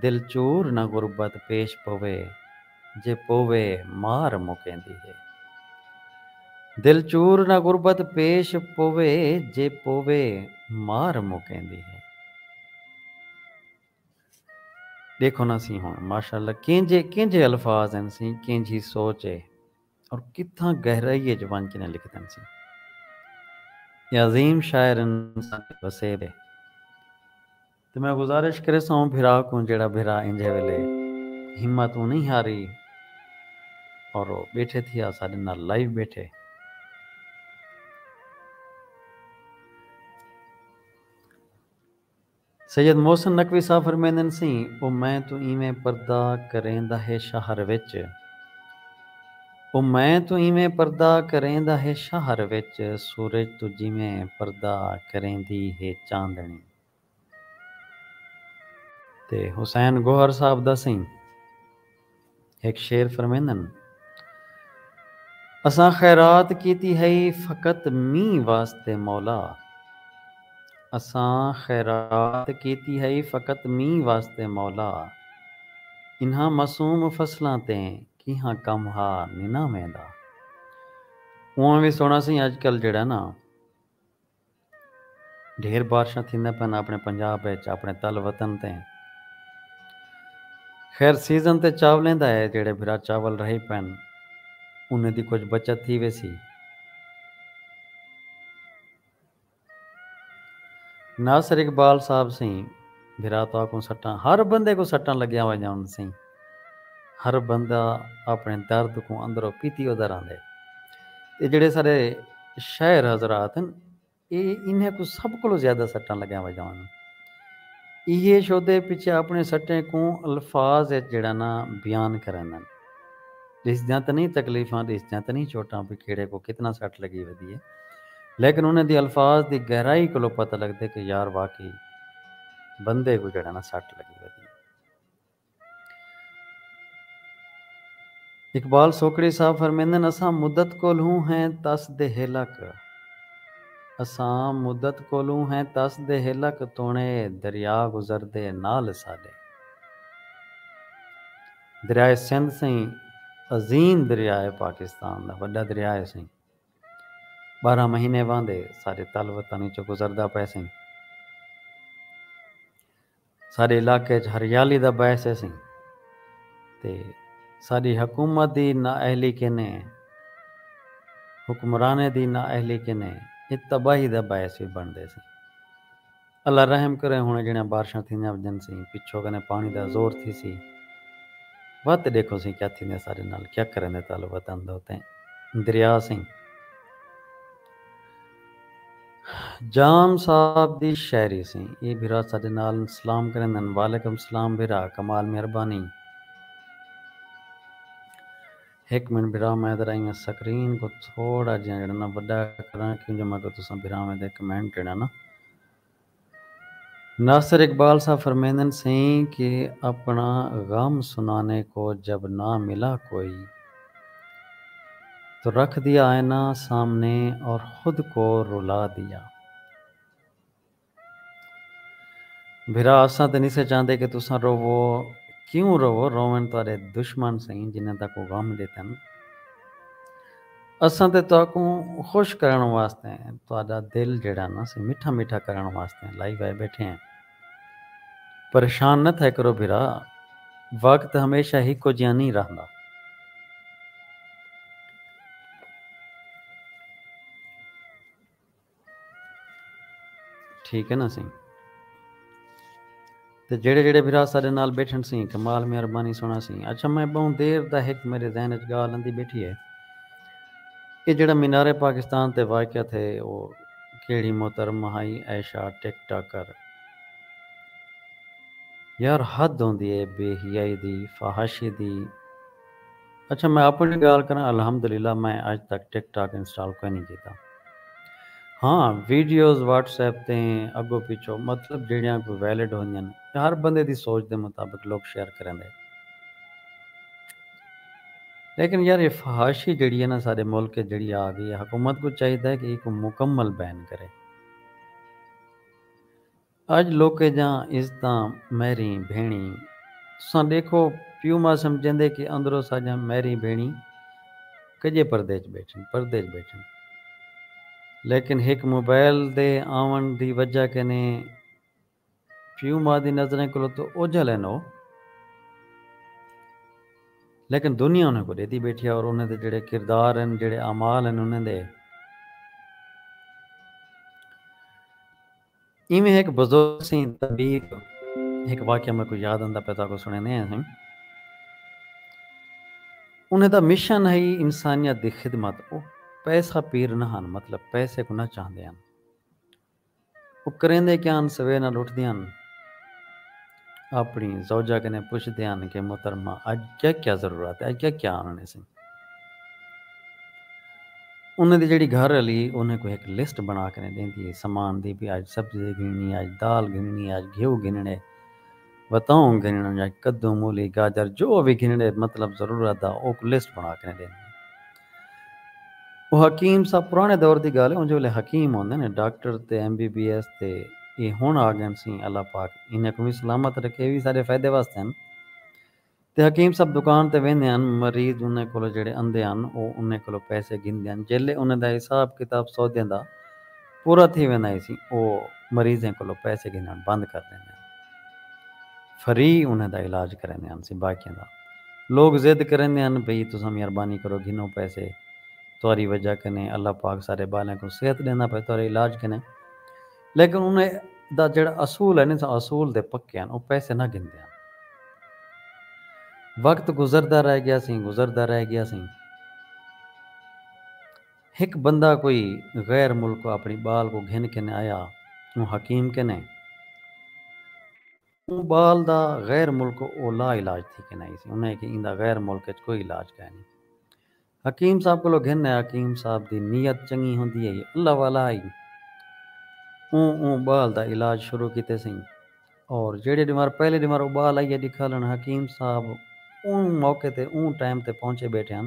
دل چور نہ غربت پیش پوے جے پوے مار مکیندی ہے۔ دل چور نہ غربت پیش پوے جے پوے مار مکیندی ہے۔ ڈیکھو نا سی ہن ماشاءاللہ کینجھے کینجھے الفاظ ہن سی کینجھی سوچ ہے اور کتھاں گہرائی اچ ونج کنیں لکھدن سی۔ اے عظیم شاعر انسان دے وسیب ہے۔ تے میں گزارش کریساں اوں بھرا کوں جیڑھا بھرا اینجھے ویلے ہمت اوں نئیں ہاری اور او بیٹھے تھیا اساڈے نال لائیو بیٹھے۔ سید محسن نقوی صاحب فرمیندن سی او میں توں ایویں پردہ کریندا ہے شہر وچ او میں توں ایویں پردہ کریندا ہے شہر وچ سورج توں جیویں پردہ کریندی ہے چاندنی۔ تے حسین گوہر صاحب دا سئیں ہک شعر فرمیندن۔ اساں خیرات کیتی ہئی فقط مینہہ واسطے مولا اساں خیرات کیتی ہئی فقط مینہہ واسطے مولا انہاں معصوم فصلاں تے کیہاں کم ہا ننہاں ویندا۔ اونہاں وی سوہنڑا سئیں اجکل جیہڑا نا۔ ڈھیر بارشاں تھیندیاں پن اپنڑے پنجاب اچ اپنڑے تل وطن تے۔ خیر سیزن تے چاولیں دا ہے جیڑھے بھرا چاول رہی پن انہیں دی کجھ بچت تھی ویسی۔ ناصر اقبال صاحب سیں بھرا تہاکوں سٹاں ہر بندے کوں سٹاں لگیاں ونجاون سیں۔ ہر بندہ اپݨے درد کوں اندروں پیتی ادا رہندے۔ تے جیڑھے سارے شاعر حضرات ہن اے انھیں کوں سب کولوں زیادہ سٹاں لگیاں ویندیاں ہن۔ ایہے شودے پچھے اپݨے سٹیں کوں الفاظ اچ جیڑھا نا بیان کریندن۔ ݙسدیاں تاں نئیں تکلیفاں ݙسدیاں تاں نئیں چوٹاں بھئی کیڑھے کوں کتنا سٹ لگی ودی ہے۔ لیکن انھیں دی الفاظ دی گہرائی کولوں پتہ لڳدے کہ یار واقعی بندے کوں جیڑھا نا سٹ لڳی ودی ہے۔ اقبال سوکڑی صاحب فرمیندن اساں مدت کولھوں ہیں تس دے ہیلک اساں مدت کولھوں ہیں تس دے ہیلک توݨے دریا گزردے نال اساݙے دریائے سندھ سئیں عظیم دریائے پاکستان دا وݙا دریائے سئیں ٻارہاں مہینے واندے ساݙے تل وطن وچوں گزردا پئے سئیں۔ ساݙے علاقے اچ ہریالی دا باعث ہیسیں تے ساݙی حکومت دی نااہلی کنیں حکمرانیں دی نااہلی کنیں اے تباہی دا باعث وی بݨدے سیں۔ اللہ رحم کرے ہݨ جیڑھیاں بارشاں تھیندیاں ونجن سیں پچھو کنیں پاݨی دا زور تھیسی وت ݙیکھو سیں کیا تھیندے ساݙے نال کیا کریندے طالب وطن دو تیں دریا سیں۔ جام صاحب دی شاعری سیں اے بھرا ساڈے نال سلام کریندن۔ وعلیکم سلام بھرا کمال مہربانی۔ ہک منٹ بھرا میں ذرا ایئں سکرین کوں تھوڑا جیاں جیڑھا نا وڈا کراں کیوں جو میں کوں تساں بھراواں دے کمنٹ جیڑھا نا ناصر اقبال صاحب فرمیندن سئیں کہ اپنا غم سنانے کو جب نہ ملا کوئی تو رکھ دیا آئینہ سامنے اور خود کو رلا دیا۔ بھرا اساں تے نسے چاہندے کہ تساں روو، کیوں روو، روون تہاڈے دشمن سئیں جنہاں تہاکوں غم ڈتن۔ اساں تے تہاکوں خوش کرݨ واسطے تہاݙا دل جیڑھا نہ سی مٹھا مٹھا کرݨ واسطے لائی وائے ٻیٹھے ہیں۔ پریشان نہ تھئے کرو بھرا، وقت ہمیشہ ہکو جیہاں نھیں رہندا۔ ٹھیک ہے نا سائیں تے جیڑھے جیڑھے بھرا ساڈے نال بیٹھن سیں کمال مہربانی سونا سیں اچھا میں بہوں دیر دا ہک میرے ذہن اچ گالھ اندی بیٹھی ہے اے جیڑھا مینار پاکستان تے واقع تھے او کیڑھی محترمہ ہائی عائشہ ٹک ٹاکر یار حد ہوندی ہے بے حیائی دی فحاشی دی اچھا میں اپنڑی گالھ کراں الحمدللہ میں اج تک ٹک ٹاک انسٹال کوئنی کیتا ہاں ویڈیوز واٹس ایپ تے اگو پچھو مطلب جیڑیاں کوئی ویلڈ ہوندیاں یا ہر بندے دی سوچ دے مطابق لوک شیئر کریندے لیکن یار اے فحاشی جیڑی ہے نا ساڈے ملک اچ جیڑی آ گئی ہے حکومت کوں چاہیدا ہے کہ ایکوں مکمل بین کرے۔ اج لوکے جاں عزتاں میریں بھیݨی۔ تساں ݙیکھو پیو ماء سمجھیندے کہ اندرو ساجاں میریں بھیݨی کڄے پردے اچ ٻیٹھن پردے اچ ٻیٹھن لیکن ہک موبائل دے آوݨ دی وجہ کنے پیو ماء دی نظریں کولو تاں اوجھل ہن او لیکن دنیا انہیں کوں ݙیدی ٻیٹھی ہے اور انہیں دے جیڑھے کردار ہن جیڑھے اعمال ہن انہیں دے ایویں ہک بزرگ سئیں طبیب ہک واقعہ میکوں یاد آندا پئے تہاکوں سݨیندے ہیں سئیں۔ انہیں دا مشن ہئی انسانیت دی خدمت او پیسہ پیر نہ ہن مطلب پیسے کوں نہ چاہندے ہن۔ او کریندے کیا ہن سویر نال اٹھدے ہن۔ اپݨی زوجہ کنیں پچھدے ہن کہ محترمہ اڄ کیا کیا ضرورت ہے، اڄ کیا کیا آنݨے سئیں۔ انہاں دی جیڑھی گھر آلی ہئی او انہاں کوں ہک لسٹ بݨا کنیں ݙیندی ہئی سامان دی بھئی اڄ سبزی گھنݨی ہے، اڄ دال گھنݨی ہے، اڄ گھیو گھنݨے، وتاؤں گھنݨ یا کدوں، مولی، گاجر جو وی گھنݨے مطلب ضرورت دا اوکوں لسٹ بݨا کنیں ݙیندی ہئی۔ او حکیم صاحب پرانے دور دی گالھ ہے اونجے ویلے حکیم ہوندے نے ڈاکٹر تے ایم بی بی ایس تے اے ہن آگن سیں اللہ پاک انہیں کوں وی سلامت رکھے اے وی ساڈے فائدے واسطے ہن تے حکیم صاحب دکان تے ویندے ہن مریض انہیں کولو جیڑھے اندھے ہن او انہیں کولو پیسے گھندے ہن جیلے انہیں دا حساب کتاب سودیں دا پورا تھی ویندا ہیسی او مریضیں کولوں پیسے گھنݨ بند کر ݙیندے ہن۔ فری انھیں دا علاج کریندے ہنسی باقیاں دا لوک ضد کریندے ہن بھئی تساں مہربانی کرو گھنو پیسے تہاݙی وجہ کنیں اللہ پاک سارے ٻالیں کوں صحت ݙیندا پئے تہاݙے علاج کنیں لیکن انھیں دا جیڑھا اصول ہے نی سا اصول دے پکے ہن او پیسے نہ گھندے ہن۔ وقت گزردا رہ ڳیاسی گزردا رہ ڳیاسی۔ ہک بندہ کوئی غیر ملکوں اپݨی ٻال کوں گھن کن آیا اوں حکیم کن اے۔ اوں ٻال دا غیر ملکوں او لا علاج تھی کن آئی سی۔ انہاں اکھیا ایندا غیر ملک اچ کوئی علاج کائے نی۔ حکیم صاحب کولو گھن آیا۔ حکیم صاحب دی نیت چنگی ہوندی ہئی۔ اللہ والا ہئی۔ اوں اوں ٻال دا علاج شروع کیتے سئیں۔ اور جیڑھے ݙیوار پہلے ݙیوار او ٻال آئیے ݙکھالݨ حکیم صاحب اوں موقع تے اوں ٹائم تے پہنچے ٻیٹھے ہن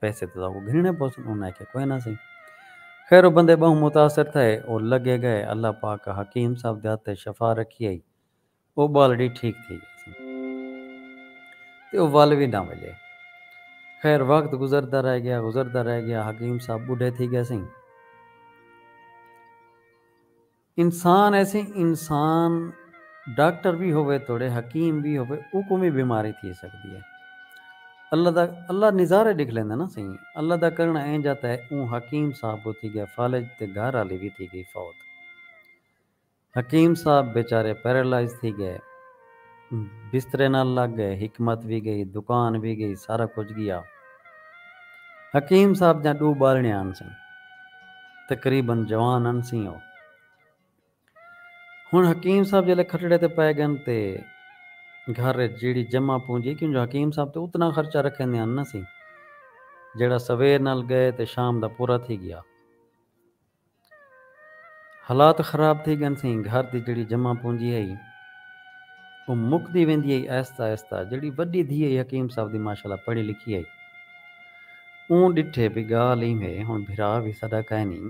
پیسے تساں کوں گھنݨے پوسن انہاں آکھیا کوئے نہ سئیں خیر او بندے ٻہوں متاثر تھئے او لڳے ڳئے اللہ پاک حکیم صاحب دے ہتھ تے شفا رکھی ہئی او ٻالڑی ٹھیک تھی ڳئی تے او ول وی نہ وڄے خیر وقت گزردا رہ ڳیا گزردا رہ ڳیا حکیم صاحب ٻڈھے تھی ڳئے سئیں۔ انسان ایسی انسان ڈاکٹر وی ہووے توڑے حکیم وی ہووے اوکوں وی بیماری تھی سگدی ہے اللہ دا اللہ نظارے ڈکھ لیندے نا سئیں اللہ دا کرنڑ اینجھا تے اوں حکیم صاحب و تھی گیا فالج تے گھر آلی وی تھی گئی فوت حکیم صاحب بیچارے پیرالائز تھی گئے۔ بسترے نال لگ گئے۔ حکمت وی گئی، دکان وی گئی، سارا کجھ گیا۔ حکیم صاحب دیاں ڈو بالنیاں ہنسن۔ تقریبا جوان ہنسیں او۔ ہن حکیم صاحب جلے کھٹڑے تے پئے گن تے گھر اچ جیڑھی جمع پونجی کیوں جو حکیم صاحب تے اتنا خرچہ رکھیندے ہن نہ سی جیڑھا سویر نال گئے تے شام دا پورا تھی گیا۔ حالات خراب تھی گن سیں، گھر دی جیڑھی جمع پونجی ہئی او مکدی ویندی ہئی آہستہ آہستہ، جیڑھی وڈی دھی ہئی حکیم صاحب دی ماشاء اللہ پڑھی لکھی ہئی اوں ڈٹھے بھئی گالھ ایم ہے ہن بھرا وی ساڈا کائنی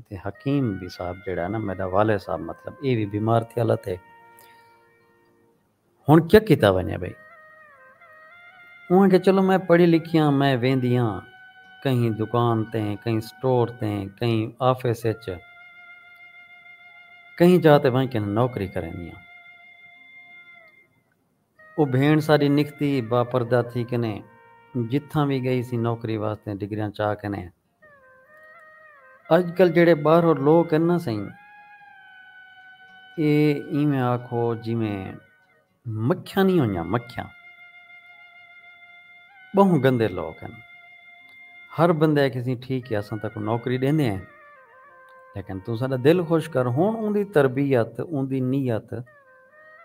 تے حکیم صاحب جیڑھا ہے نا میڈا والد صاحب مطلب اے وی بیمار تھیالا تے ہݨ کیا کیتا ونڄے بھئی؟ اوں آکھیا چلو میں پڑھی لکھی آں میں ویندی ہاں کہیں دکان تے کہیں سٹور تے کہیں آفس اچ کہیں جاہ تے ونڄ کے ناں نوکری کریندی ہاں۔ او بھیݨ ساݙی نکھتی با پردہ تھی کے ناں جتھاں وی ڳئی سی نوکری واسطے ڈگریاں چا کے ناں اڄ کل جیہڑے ٻاہرو لوک ہن نا سئیں ایہ ایویں آکھو جیویں مکھیاں نی ہوئیاں مکھیاں۔ ٻہوں گندے لوک ہن۔ ہر بندے آکھے سی ٹھیک ہے اساں تاکوں نوکری ݙیندے ہیں لیکن توں ساݙا دل خوش کر ہݨ اوندی تربیت اوندی نیت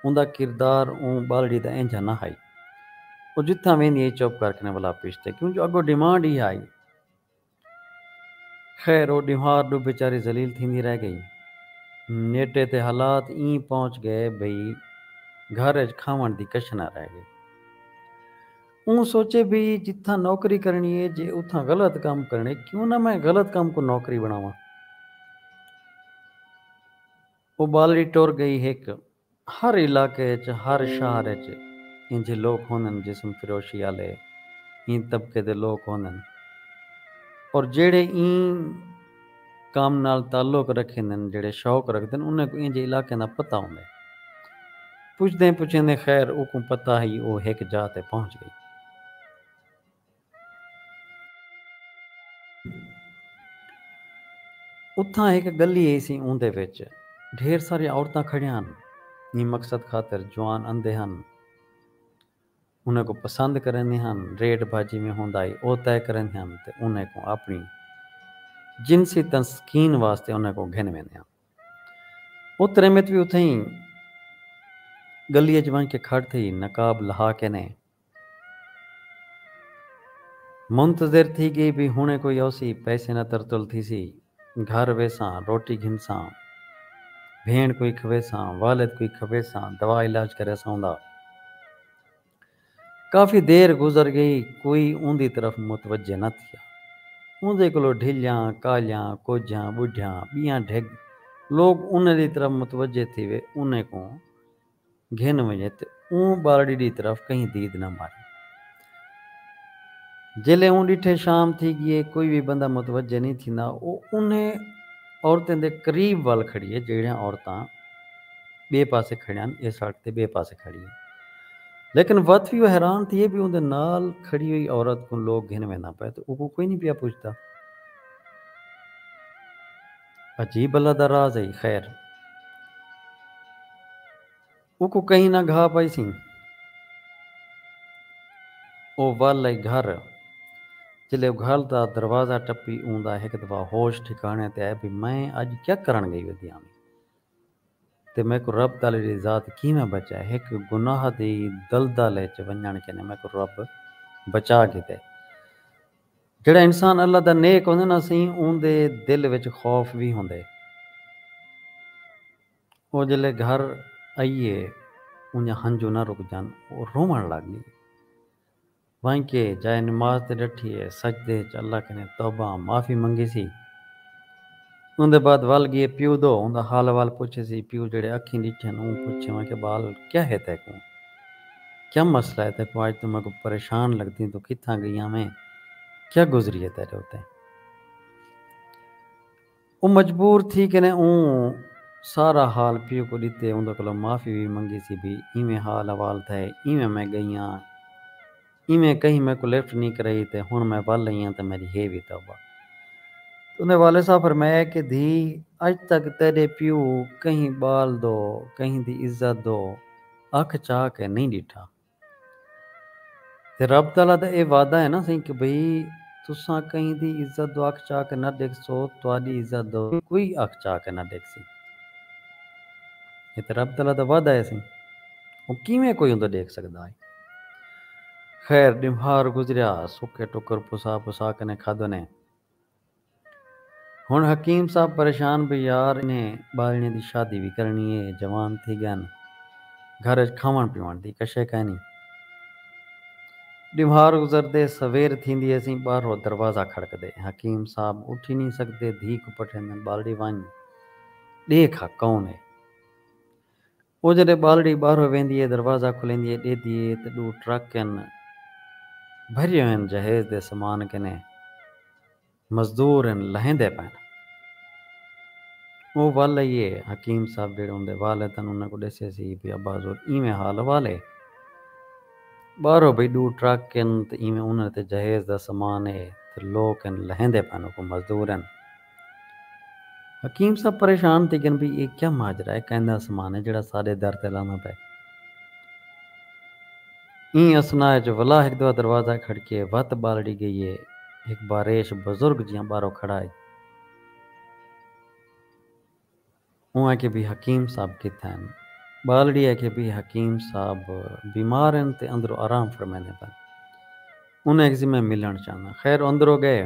اوندا کردار اوں ٻالڑی دا اینجھا نہ ہئی۔ او جتھاں ویندی ہئی چپ کر کے ولا پچھتے کیوں جو اڳوں ڈیمانڈ ایہا ہئی۔ خیر او ݙیوار ݙو بیچاری ذلیل تھیندی رہ ڳئی۔ نیٹے تے حالات ایں پہنچ ڳئے بھئی گھر اچ کھاوݨ دی کچھ نہ رہ ڳئی۔ اوں سوچے بھئی جتھاں نوکری کرݨی اے جے اتھاں غلط کم کرݨے کیوں نہ میں غلط کم کوں نوکری بݨاواں۔ او ٻالڑی ٹر ڳئی ہک ہر علاقے اچ ہر شہر اچ اینجھے لوک ہوندن جسم فروشی آلے ایں طبقے دے لوک ہوندن اور جیڑھے ایں کم نال تعلق رکھیندن جیڑھے شوق رکھدن انہاں کوں اینجھے علاقیاں دا پتہ ہوندے پچھدیں پچھیندیں خیر اوکوں پتہ ہئی او ہک جاہ تے پہنچ گئی۔ اتھاں ہک گلی ہیسی اوندے وچ ڈھیر ساریاں عورتاں کھڑیاں ہن ایں مقصد خاطر جوان اندے ہن انہیں کوں پسند کریندیں ہن ریٹ بھا جیویں ہوندا ہئی او طے کریندیں ہن تے انہیں کوں اپنی جنسی تسکین واسطے انہیں کوں گھن ویندیں ہن او تریمت وی اتھیں گلی اچ ونج کے کھڑ تھئی نقاب لہا کینے منتظر تھی گئی بھئی ہنڑے کوئی اوسی پیسے نا ترتل تھیسی گھر ویساں روٹی گھنساں بھینڑ کوئی کھویساں والد کوئی کھویساں دوا علاج کریساں اوندا کافی دیر گزر گئی کوئی اوندی طرف متوجہ نہ تھیا اوندے کولو ڈھلیاں کالیاں کوجھیاں بڈھیاں بیاں ڈھگ لوگ انہیں دی طرف متوجہ تھیوے انہیں کوں گھن ونڄے تے اوں ٻالڑی ݙی طرف کہیں دید نہ مارے۔ جیلھے اوں ݙٹھے شام تھی ڳی ہے کوئی وی بندہ متوجہ نئیں تھیندا او انھیں عورتیں دے قریب ول کھڑی ہے جیڑھیاں عورتاں ٻئے پاسے کھڑیاں اے سڑک تے ٻئے پاسے کھڑی ہے لیکن وت وی او حیران تھیے بی اوندے نال کھڑی ہوئی عورت کوں لوک گھن وینداں پئے تے اوکوں کوئی نئیں پیا پچھدا۔ عجیب اللہ دا راز ہئی خیر اوکوں کہیں نہ گھا پائیسیں او ول ہئی گھر جلے او گھر دا دروازہ ٹپی اوں دا ہک دفعہ ہوش ٹھکانے تے آئے بھئی میں اج کیا کرݨ گئی ودی ہاں وی تے میکوں رب تعالی دی ذات کیویں بچائے ہک گناہ دی دلدل اچ ونڄݨ کنیں میکوں رب بچا گھدے۔ جیڑھا انسان اللہ دا نیک ہوندے نا سئیں اوندے دل وچ خوف وی ہوندے۔ او جلے گھر ائیے اونجا ہنجو نہ رکجن او روون لگ گئی۔ وائیں کے جائے نماز تے ڈٹھی اے سجدے اچ اللہ کنیں توبہ معافی منگیسی۔ اوندے بعد ول گیئے پیو دو اوندا حال احوال پچھے سی پیو جیڑھے اکھیں ڈٹھن اوں پچھے واں کہ بال کیا ہے تیکوں کیا مسئلہ ہے تیکوں اج توں میکوں پریشان لگدیں توں کتھاں گئیاں ویں کیا گزری ہے تیڈے اتے او مجبور تھی کنے اوں سارا حال پیو کوں ڈتے اوندے کولوں معافی وی منگی سی بھئی ایویں حال احوال تھئے ایویں میں گئیاں ایویں کہیں میکوں لفٹ نی کرائی تے ہنڑ میں ول ہیاں تے میڈی ہے وی توبہ۔ تیندے والد صاحب فرمایا کہ دھی اج تک تیڈے پیو کہیں بال دو کہیں دی عزت دو اکھ چاہ کے نی ڈٹھا۔ تے رب تعالی دا اے وعدہ ہے نا سئیں کہ بھئی تساں کہیں دی عزت دو اکھ چاہ کے نہ ڈکھسو تہاڈی عزت دو وی کوئی اکھ چاہ کے نہ ڈکھسی۔ اے تے رب تعالی دا وعدہ ہے سئیں او کیویں کوئی اوندو ڈکھ سگدا ہے۔ خیر ݙمہار گزریا۔ سکے ٹکر پسا پسا کنیں کھادو نے۔ ہݨ حکیم صاحب پریشان بھئی یار انہیں ٻالݨیں دی شادی وی کرݨی اے۔ جوان تھی ڳن۔ گھر اچ کھاوݨ پیوݨ دی کشے کائنی۔ ݙمہار گزردے سویر تھیندی اسی ٻاہرو دروازہ کھڑکدے۔ حکیم صاحب اٹھی نی سڳدے دھی کوں پٹھیندن ٻالڑی ونڄ ݙیکھ ہا کون اے۔ او جݙے ٻالڑی ٻاہرو ویندی اے دروازہ کھلیندی اے ݙیدھی اے تے ݙو ٹرک ہن بھریے ہوئن جہیز دے سامان کنے مزدور ہن لہیندے پئن او ول ائی اے حکیم صاحب جیڑھے اوندے والد ہن انہاں کوں ݙسے سی بھئی ابا حضور ایویں حال احوال اے ٻاہرو بھئی ݙو ٹرک ہن تے ایویں انہاں دے تے جہیز دا سامان اے تے لوک ہن لہیندے پئن اوکوں مزدور ہن حکیم صاحب پریشان تھی گن بھئی اے کیا ماجرا ہے کیندا سمان ہے جیڑھا ساڈے در تے لاندا پئے۔ ایں اثناء اچ ولا ہک دوا دروازہ کھڑکیے وت بالڑی گئی ہے ہک باریش بزرگ جیہاں باہرو کھڑا ہئی۔ اوں آکھیا بی حکیم صاحب کتھے ہن؟ ٻالڑی آکھیا بی حکیم صاحب بیمار ہن تے اندرو آرام فرمیندے پن۔ انہاں آکھیسی میں ملݨ چاہنداں۔ خیر اندرو ڳئے۔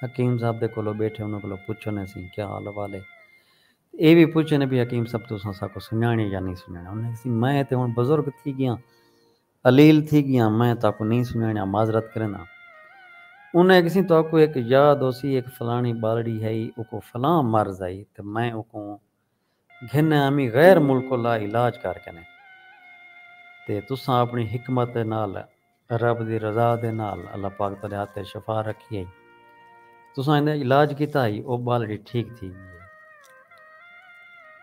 حکیم صاحب دے کولو ٻیٹھے انہاں کولو پچھن اے سی کیا حال احوال اے۔ اے وی پچھن اے بی حکیم صاحب تساں اساکوں سنڄاݨیے یا نئیں سنڄاݨیے۔ انہاں آکھیسی میں تے ہݨ بزرگ تھی ڳیاں۔ الیل تھی گیاں میں تہاکوں نئیں سنڄاݨیا معذرت کرینداں انہاں اکھیسیں تہاکوں ہک یاد ہوسی ہک فلاݨی ٻالڑی ہئی اوکوں فلاں مرض ہئی تے میں اوکوں گھن آمی غیر ملک الا علاج کر کنے تے تساں اپݨی حکمت دے نال رب دی رضا دے نال اللہ پاک تہاݙے ہتھ اچ شفا رکھی ہئی۔ تساں ایندا علاج کیتا ہئی، او ٻالڑی ٹھیک تھی ڳئی ہے۔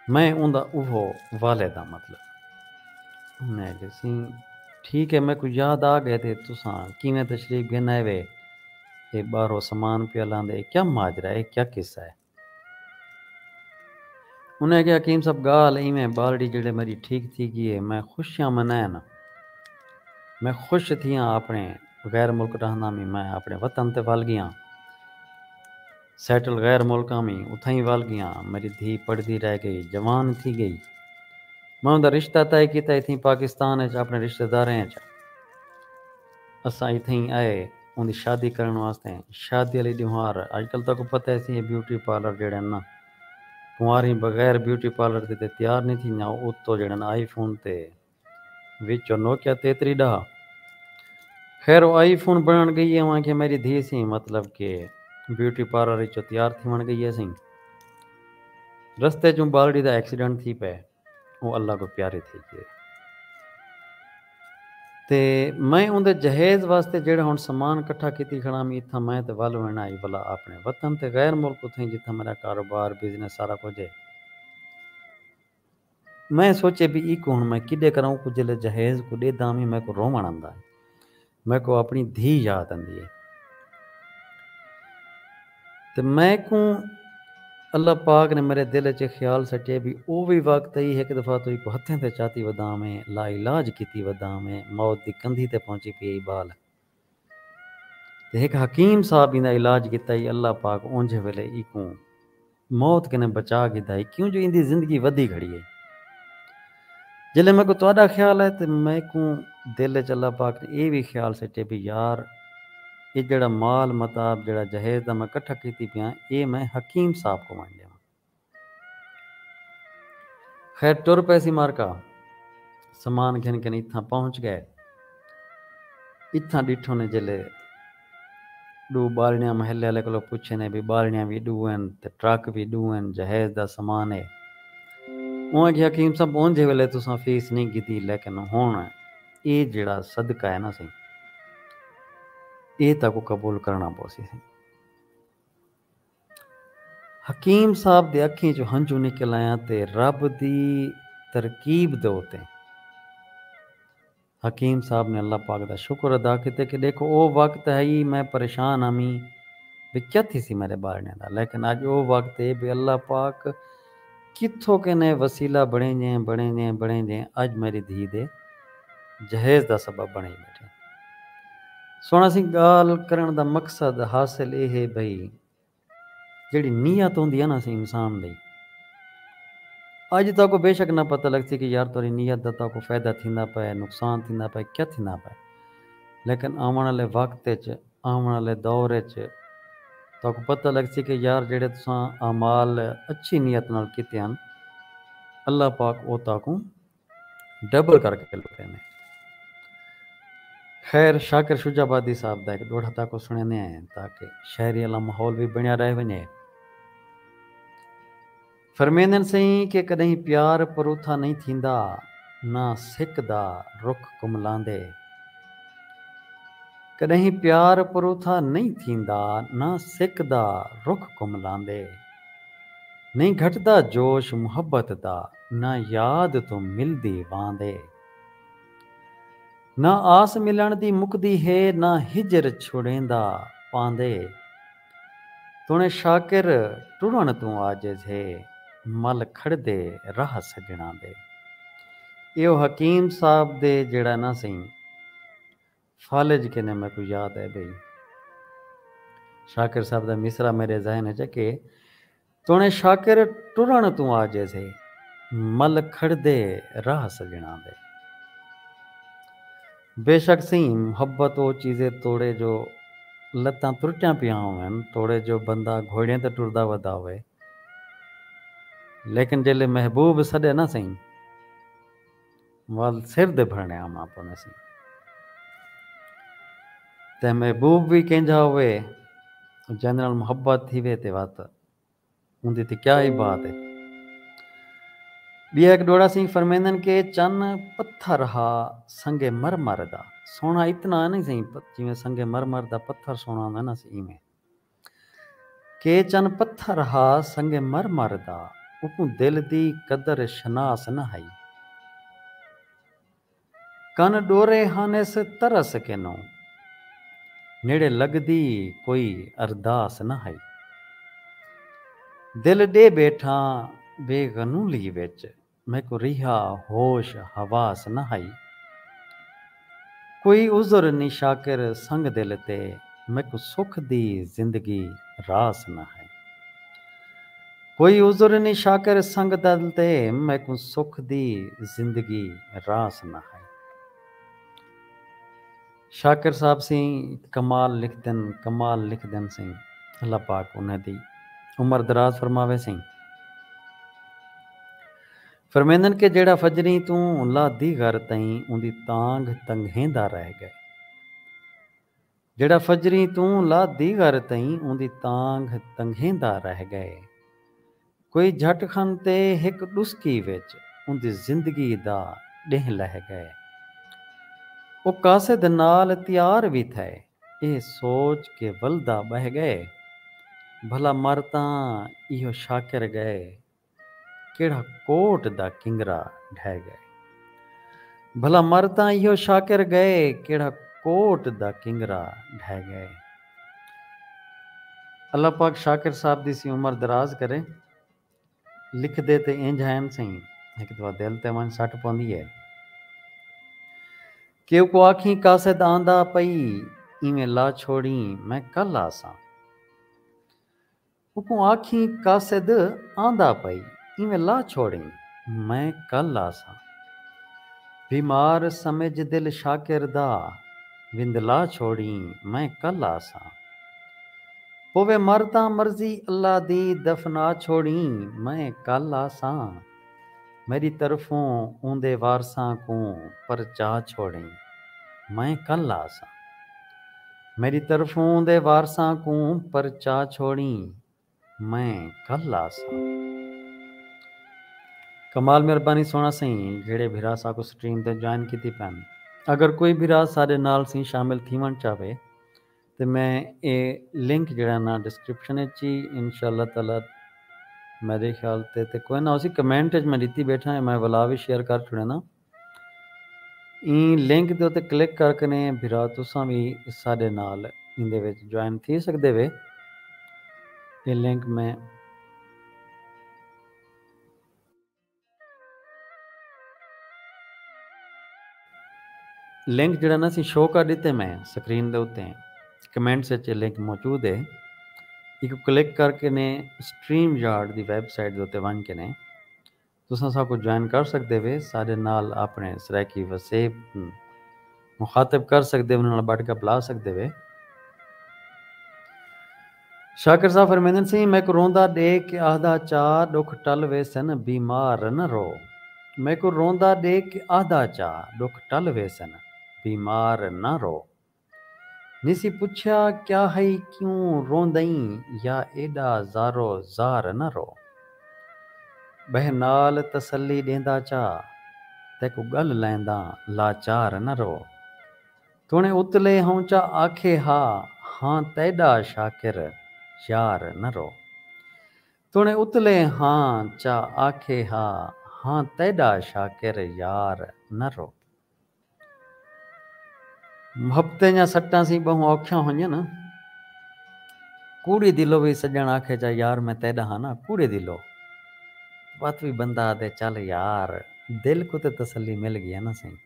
میں اوندا اوہو والد ہاں مطلب۔ میں ݙیسیں، ٹھیک ہے میکوں یاد آ ڳئے تے تساں کیویں تشریف گھن آئیوے۔ اے ٻاہرو سامان پیا لاندے، اے کیا ماجرا ہے، اے کیا قصہ ہے۔ انہاں آکھیا حکیم صاحب گالھ ایویں بالڑی جیڑھے میڈی ٹھیک تھی گی اے میں خوشیاں منائیں ناں میں خوش تھیاں آپنڑے غیر ملک ڈاہنداں وی میں آپنڑے وطن تے ول گیاں سیٹل غیر ملکاں وی اتھائیں ول گیاں میڈی دھی پڑھدی رہ گئی جوان تھی گئی میں اوندا رشتہ طے کیتا اتھیں پاکستان اچ آپنڑے رشتہ داراں اچ اساں اتھیں آئے اوندی شادی کرݨ واسطے۔ شادی آلی ݙیوہار اڄ کل تہاکوں پتہ ہے سی اے بیوٹی پارلر جیڑھن نا کنواریں بغیر بیوٹی پارلر دے تے تیار نی تھیندیاں او اتو جیڑھن آئی فون تے وچو نوکیا تیتری ݙاہ خیر او آئی فون بݨݨ ڳئی اے اوانکھیا میݙی دھی سئیں مطلب کہ بیوٹی پارلر وچو تیار تھیوݨ ڳئی اے سئیں رستے چوں ٻالڑی دا ایکسیڈنٹ تھی پئے۔ او اللہ کوں پیارے تھی ڳئے۔ تے میں اوندے جہیز واسطے جیڑھا ہݨ سامان کٹھا کیتی کھڑام اتھاں میں تے ول ویݨا ہئی ولا آپݨے وطن تے غیر ملک اتھائیں جتھاں میݙا کاروبار، بزنس سارا کجھ ہے۔ میں سوچے پی ایکوں ہݨ میں کݙے کراں اوکوں جیلے جہیز کوں ݙیدھاں وی میکوں رووݨ آندا ہے۔ میکوں آپݨی دھی یاد آندی ہے تے میکوں اللہ پاک نے میݙے دل اچ اے خیال سٹیے بھئی او وی وقت ہئی ہک دفعہ توں ایکوں ہتھیں تے چاتی ودا ہوویں لا علاج کیتی ودا ہوویں موت دی کندھی تے پہنچی پئی ہئی بال تے ہک حکیم صاحب ایندا علاج کیتا ہئی اللہ پاک اونجھے ویلے ایکوں موت کنیں بچا گھدا ہئی کیوں جو ایندی زندگی ودھی گھڑی ہئی۔ جیلھے میکوں تہاڈا خیال آئے تاں میکوں دل اچ اللہ پاک نے ایہ وی خیال سٹے بھئی یار ایہ جیہڑا مال متاع جیہڑا جہیز دا میں کٹھا کیتی پیاں ایہ میں حکیم صاحب کوں ونڈ ڈیواں۔ خیر ٹر پیسی مارکا سامان گھن کنیں اتھاں پہنچ گئے۔ اتھاں ڈٹھوں نے جیلھے۔ ݙو ٻالݨیاں محلے آلے کولوں پچھیندے بھئی ٻالݨیاں وی ݙو ہن تے ٹرک وی ݙو ہن جہیز دا سامان اے۔ اوں آکھیا حکیم صاحب اونجھے ویلے تساں فیس نی گھدی لیکن ہݨ اے جیڑھا صدقہ اے نا سئیں اے تہاکوں قبول کرݨا پوسی سئیں۔ حکیم صاحب دے اکھیں چوں ہنجو نکل آئیاں تے رب دی ترکیب دے اتے۔ حکیم صاحب نے اللہ پاک دا شکر ادا کیتے کہ ڈیکھو او وقت ہئی میں پریشان ہامی بے کیا تھیسی میڈے بارنیاں دا لیکن اج او وقت اے بے اللہ پاک کتھوں کینے وسیلہ بنڑینجیں بنڑینجیں بنڑینجیں اج میڈی دھی دے جہیز دا سبب بنڑیں بیٹھیں سنڑ اسیں گالھ کرنڑ دا مقصد حاصل اے ہے بھئی جیڑھی نیت ہوندی ہے نا اسی انسان دی اج تاکوں بے شک نہ پتہ لگسی کہ یار تہاڈی نیت دا تاکوں فائدہ تھیندا پئے ہے نقصان تھیندا پئے ہے کیا تھیندا پئے لیکن آون آلے وقت اچ آون آلے دور اچ تاکوں پتہ لگسی کہ یار جیڑھے تساں اعمال اچھی نیت نال کیتے ہن اللہ پاک او تاکوں ڈبل کر کے لٹے نے۔ خیر شاکر شجاع آبادی صاحب دا ہک ڈوہڑا تاکوں سنڑیندے ہیں تاکہ شاعری آلا ماحول وی بنڑیا رہ ونجے۔ فرمیندن سئیں کہ کڈہیں پیار پروتھا نئیں تھیندا نہ سک دا رخ کملاندے۔ کڈہیں پیار پروتھا نئیں تھیندا نہ سک دا رخ کملاندے۔ نئیں گھٹدا جوش محبت دا نہ یاد توں ملدی واندے۔ نہ آس ملݨ دی مکدی ہے نہ ہجر چھڑیندا پاندے۔ تݨے شاکر ٹرݨ توں عاجز ہے مل کھڑدے راہ سڄݨاں دے۔ ایہو حکیم صاحب دے جیڑھا نہ سئیں۔ فالج کنیں میکوں یاد اے بھئی شاکر صاحب دا مصرعہ میڈے ذہن اچ اکے توݨے شاکر ٹرݨ توں عاجز ہے مل کھڑدے راہ سڄݨاں دے بے شک سئیں محبت او چیزے توڑے جو لتاں ترٹیاں پیاں ہوون توڑے جو بندہ گھوڑیں تے ٹردا ودا ہووے لیکن جیلے محبوب سݙے نا سئیں ول سر دے بھرݨے آوݨا پونیسی۔ تے محبوب وی کینجھا ہووے، جیندے نال محبت تھیوے تے وت اوندی تے کیا ای بات اے۔ ٻیا ہک ݙوہڑا سئیں فرمیندن کہ چن پتھر ہا سنگ مرمر دا، سوہݨا اتنا نئیں سئیں جیویں سنگ مرمر دا پتھر سوہݨا ہوندے ناں سئیں ایویں۔ کہ چن پتھر ہا سنگ مرمر دا اوکوں دل دی قدر شناس نہ ہئی کن ڈورے ہنس ترس کنوں نیڑے لگدی کوئی ارداس نہ ہئی دل ڈے بیٹھاں بے غنولی وچ میکوں ریہا ہوش حواس نہ ہئی۔ کوئی عذر نی شاکر سنگ دل تے میکوں سکھ دی زندگی راس نہ ہئی۔ کوئی عذر نی شاکر سنگ دل تے میکوں سکھ دی زندگی راس نہ ہئی۔ شاکر صاحب سئیں کمال لکھدن کمال لکھدن سئیں اللہ پاک انہاں دی عمر دراز فرماوے سئیں فرمیندن کہ جیڑھا فجریں توں لہ دی غر تئیں اوندی تانگھ تنگھیندا رہ گئے جیڑھا فجریں توں لہ دی غر تئیں اوندی تانگھ تنگھیندا رہ گئے کوئی جھٹ کھن تے ہک ݙسکی وچ اوندی زندگی دا ݙینہہ لہہ ڳئے۔ او قاصد نال تیار وی تھئے ایہ سوچ کہ ولدا ٻہہ ڳئے بھلا مر تاں ایہو شاکر ڳئے کیڑھا کوٹ دا کنگرا ڈھہہ ڳئے بھلا مر تاں ایہو شاکر ڳئے کیڑھا کوٹ دا کنگرا ڈھہہ ڳئے۔ اللہ پاک شاکر صاحب دی سی عمر دراز کرے۔ لکھدے تے انج ہین سئیں ہک دفعہ دل تے ونج سٹ پوندی ہے۔ کہ اوکوں آکھیں قاصد آندا پئی ایویں لا چھوڑیں میں کل آساں۔ اوکوں آکھیں قاصد آندا پئی ایویں لا چھوڑیں میں کل آساں۔ بیمار سمجھ دل شاکر دا وند لا چھوڑیں میں کل آساں۔ پووے مر تاں مرضی اللہ دی دفنا چھوڑیں میں کل آساں۔ میݙی طرفوں اوندے وارثاں کوں پرچا چھوڑیں، میں کل آساں۔ میݙی طرفوں اوندے وارثاں کوں پرچا چھوڑیں، میں کل آساں۔ کمال مہربانی سونا سئیں جیڑھے بھرا ساکوں سٹریم تے جوائن کیتی پن اگر کوئی بھرا ساڈے نال سئیں شامل تھیون چاہوے تے میں اے لنک جیڑھا نا ڈسکرپشن اچ ای انشاء اللہ تعالی میڈے خیال تے تے کوئنا ہوسی کمنٹ اچ میں ڈتی بیٹھا اے میں ولا وی شیئر کر چھوڑینا ایں لنک دے اتے کلک کر کنے بھرا تساں وی ساڈے نال ایندے وچ جوائن تھی سکدے وے اے لنک میں لنک جڑا نا سی شو کر دیتے میں سکرین دے اتے کمنٹس اچ لنک موجود ہے ایکو کلک کر کے نے سٹریم یارڈ دی ویب سائٹ دے اتے ونج کے نے تساں ساکو جوائن کر سکدے وے ساڈے نال اپنے سرائیکی وسیب مخاطب کر سگدے انہاں نال بٹھ گپ لا سگدے وے۔ شاکر صاحب فرمیندن سئیں میکوں روندا ڈیکھ کے آہدا چا ڈکھ ٹل ویسن بیمار نہ رو میکوں روندا ڈیکھ کے آہدا چا ڈکھ ٹل ویسن بیمار نہ رو نیسی پچھیا کیا ہئی کیوں روندئیں یا ایڈا زارو زار نہ رو۔ ٻہہ نال تسلی ݙیندا چا، تیکوں ڳل لہنداں لاچار نہ رو۔ توݨیں اتلے ہوں چا آکھے ہا، ہاں تیݙا شاکر یار نہ رو۔ توݨیں اتلے ہاں چا آکھے ہا، ہاں تیݙا شاکر یار نہ رو۔ ہپتے جاں سٹاں سی بہوں اوکھیاں ہونجن۔ کوڑی دلو وی سجن آکھے جا یار میں تیڈا ہاں نا کوڑے دلو۔ وت وی بندہ آدھے چل یار دل کوں تے تسلی مل گی ہے نا سئیں۔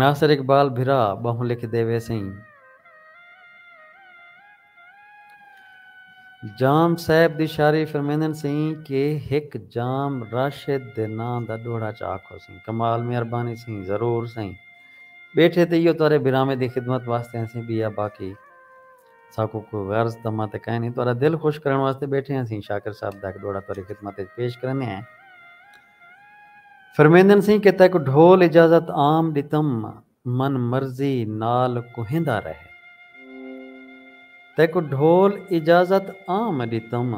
ناصر اقبال بھرا ٻہوں لکھ دے ویسئیں۔ جام صاحب دی شاعری فرمیندن سئیں کہ ہک جام راشد دے ناں دا ݙوہڑا چا آکھو سئیں کمال مہربانی سئیں ضرور سئیں ٻیٹھے تے ایہو تہاݙے بھراویں دی خدمت واسطے ہنسیں ٻیا باقی ساکوں کوئی غرض طمع تے کائنی تہاݙا دل خوش کرݨ واسطے ٻیٹھے ہنسیں شاکر صاحب دا ہک ݙوہڑا تہاݙی خدمت اچ پیش کریندے ہیں۔ فرمیندن سیں کہ تیکوں ڈھول اجازت عام ڈتم من مرضی نال کوہیندا رہ تیکوں ڈھول اجازت عام ڈتم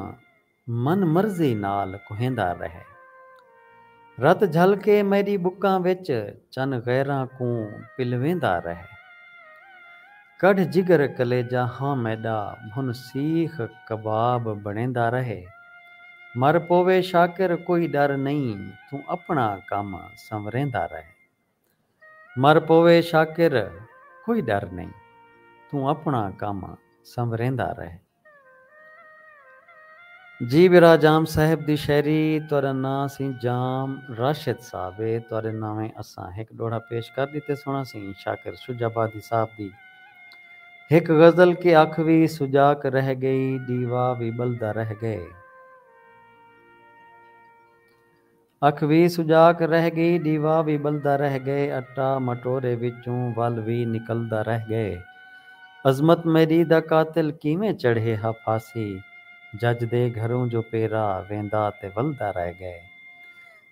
من مرضی نال کوہیندا رہ رت جھل کے میڈی بکاں وچ چن غیراں کوں پلویندا رہ۔ کڈھ جگر کلیجہ ہاں میڈا بھن سیخ کباب بنڑیندا رہے مر پووے شاکر کوئی ڈر نئیں توں اپنڑا کم سنوریندا رہے مر پووے شاکر کوئی ڈر نئیں توں اپنڑا کم سنوریندا رہے۔ جی برا جام صاحب دی شعری تہاڈا ناں سی جام راشد صاحب اے تہاڈے ناویں اساں ہک ڈوہڑا پیش کر ڈتے سونا سی شاکر شجع آبادی صاحب دی ہک غزل کہ اکھ وی سجاک رہ گئی ڈیوا وی بلدا رہ گئے۔ اکھ وی سجاک رہ ڳئی ݙیوا وی ٻلدا رہ ڳئے اٹا مٹورے وچوں ول وی نکلدا رہ ڳئے عظمت میݙی دا قاتل کیویں چڑھے ہا پھاسی جج دے گھروں جو پیرا ویندا تے ولدا رہ ڳئے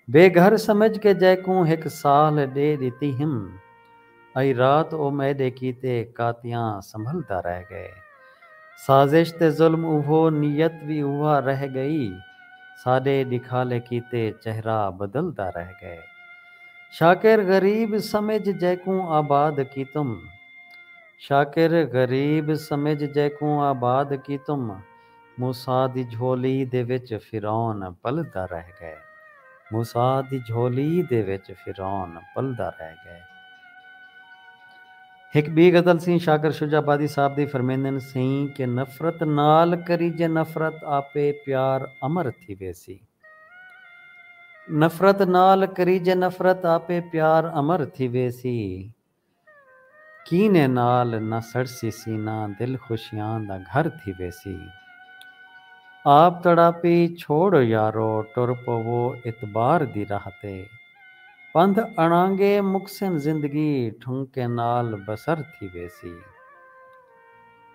بے گھر سمجھ کے جیکوں ہک سال ݙے ݙتی ہم ائی رات او میڈے کیتے کاتیاں سنبھلدا رہ گئے۔ سازش تے ظلم اوہو نیت وی اوہا رہ گئی۔ ساڈے ڈکھالے کیتے چہرہ بدلدا رہ گئے۔ شاکر غریب سمجھ جیکوں آباد کیتم۔ شاکر غریب سمجھ جیکوں آباد کیتم۔ موسی دی جھولی دے وچ فرعون پلدا رہ ڳئے۔ موسی دی جھولی دے وچ فرعون پلدا رہ ڳئے۔ ہک ٻی غزل سئیں شاکر شجاع آبادی صاحب دی فرمیندن سئیں کہ نفرت نال کریجے نفرت آپے پیار امر تھی ویسی۔ نفرت نال کریجے نفرت آپے پیار امر تھی ویسی۔ کینے نال نہ سڑسی سینہ دل خوشیاں دا گھر تھی ویسی آپ تڑاپی چھوڑو یارو ٹر پوو اعتبار دی راہ تے پندھ اڑانگے مکسن زندگی ٹھنکیں نال بسر تھی ویسی۔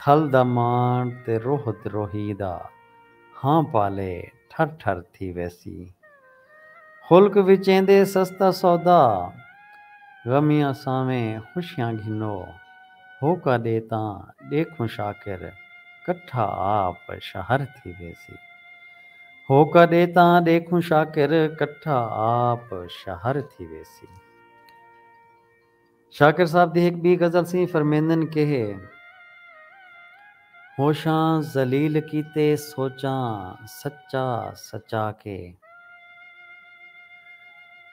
تھل دا ماݨ تے روہ تے روہی دا ہاں پالے ٹھر ٹھر تھی ویسی خلق وچ ایندے سستا سودا غمیاں سانویں خوشیاں گھنو ہوکا ݙے تاں ݙیکھوں شاکر کٹھا آپ شہر تھی ویسی ہوکا ݙے تاں ݙیکھوں شاکر کٹھا آپ شہر تھی ویسی۔ شاکر صاحب دی ہک ٻی غزل سی فرمیندن کیہے ہوشاں ذلیل کیتے سوچاں سچا سچا کے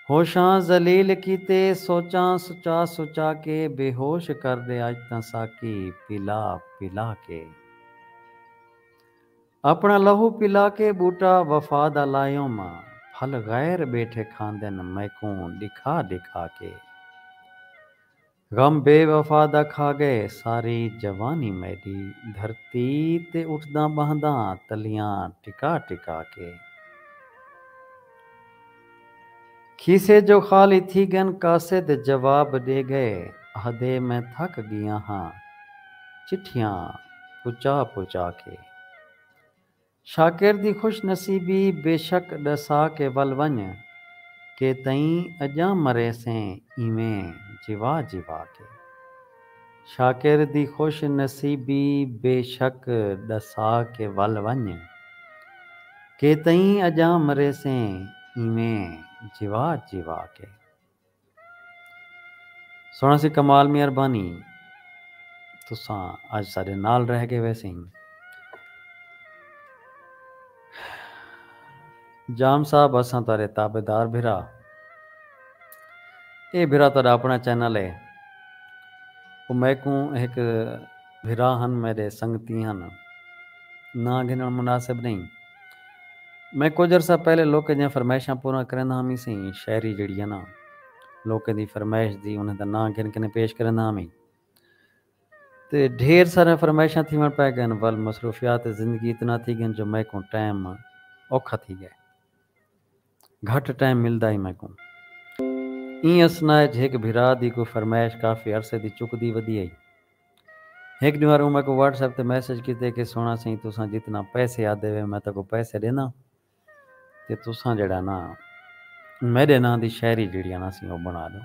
ہوشاں ذلیل کیتے سوچاں سچا سچا کے بے ہوش کر ݙے اڄ تاں ساقی پلا پلا کے۔ اپݨا لہو پلا کے ٻوٹا وفا دا لائیوم آں پھل غیر ٻیٹھے کھاندن میکوں ݙکھا ݙکھا کے غم بے وفا دا کھا ڳئے ساری جوانی میݙی دھرتی تے اٹھداں ٻہنداں تلیاں ٹکا ٹکا کے۔ کھیسے جو خالی تھی گن قاصد جواب ڈے گئے آہدے میں تھک گیاں ہاں چٹھیاں پچا پچا کے شاکر دی خوش نصیبی بے شک ڈسا کے ول ونج کے تئیں اجاں مریسیں ایویں جوا جوا کے۔ شاکر دی خوش نصیبی بے شک ݙسا کے ول ونڄ کے تئیں اڄاں مریسیں ایویں جیوا جیوا کے۔ سوہݨا سی کمال مہربانی تساں اڄ ساݙے نال رہ ڳئے ویسیں۔ جام صاحب اساں تہاڈے تابعدار بھرا اے بھرا تہاڈا اپنڑا چینل اے او میکوں ہک بھرا ہن میڈے سنگتی ہن ناں گھنڑ مناسب نہیں میں کجھ عرصہ پہلے لوکیں دیاں فرمائشاں پوراں کریندا ہامی سئیں شاعری جیڑھی اے ناں لوکیں دی فرمائش دی انہیں دا ناں گھن کنیں پیش کریندا ہامی۔ تے ڈھیر ساریاں فرمائشاں تھیوݨ پئے ڳن ول مصروفیات زندگی اتنا تھی ڳن جو میکوں ٹائم اوکھا تھی ڳئے۔ گھٹ ٹائم ملدا ہئی میکوں۔ ایں اثنا اچ ہک بھرا دی کوئی فرمائش کافی عرصے دی چکدی ودی ہئی۔ ہک ݙینہہ ہر اوں میکوں واٹس ایپ تے میسج کیتے کہ سوہݨا سئیں تساں جتنا پیسے آدھے وے میں تہاکوں پیسے ݙینداں تے تساں جیڑھا نا میڈے ناں دی شاعری جیڑھیاں نا سیں او بنا ڈیو۔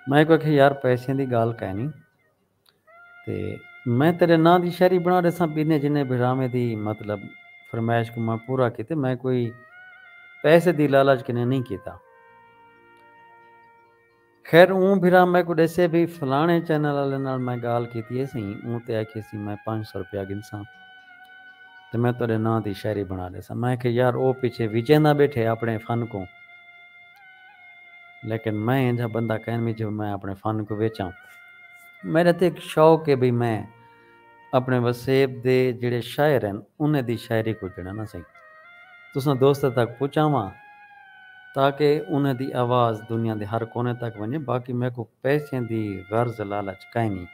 میں اکوں آکھیا یار پیسیں دی گال کائنی تے میں تیڈے ناں دی شاعری بنا ڈیساں بینے جنے بھراویں دی مطلب فرمائش کوں میں پورا کیتے میں کوئی پیسے دی لالچ کنے نئیں کیتا۔ خیر اوں بھرا میکوں ڈیسے بھئی فلانے چینل آلے نال میں گالھ کیتی ہے سئیں اوں تے آکھیے سی میں پنج سو روپیہ گھنساں تے میں تہاڈے ناں دی شاعری بنا ڈیساں میں آکھیے یار او پیچھے وچیندا بیٹھے اپنے فن کوں لیکن میں اینجھا بندہ کائنی جو میں اپنے فن کوں ویچاں میڈے تے ہک شوق ہے بھئی میں اپݨے وسیب دے جیڑھے شاعر ہن انھیں دی شاعری کوں جݙاں نہ سئیں تساں دوستاں تک پچاواں تاکہ انھیں دی آواز دنیا دے ہر کونے تک ونڄے باقی میکوں پیسیں دی غرض لالچ کائنی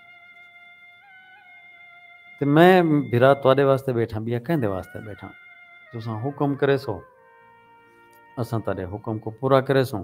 تے میں بھرا تہاݙے واسطے ٻیٹھاں ٻیا کیندے واسطے ٻیٹھاں تساں حکم کریسو اساں تہاݙے حکم کوں پورا کریسوں۔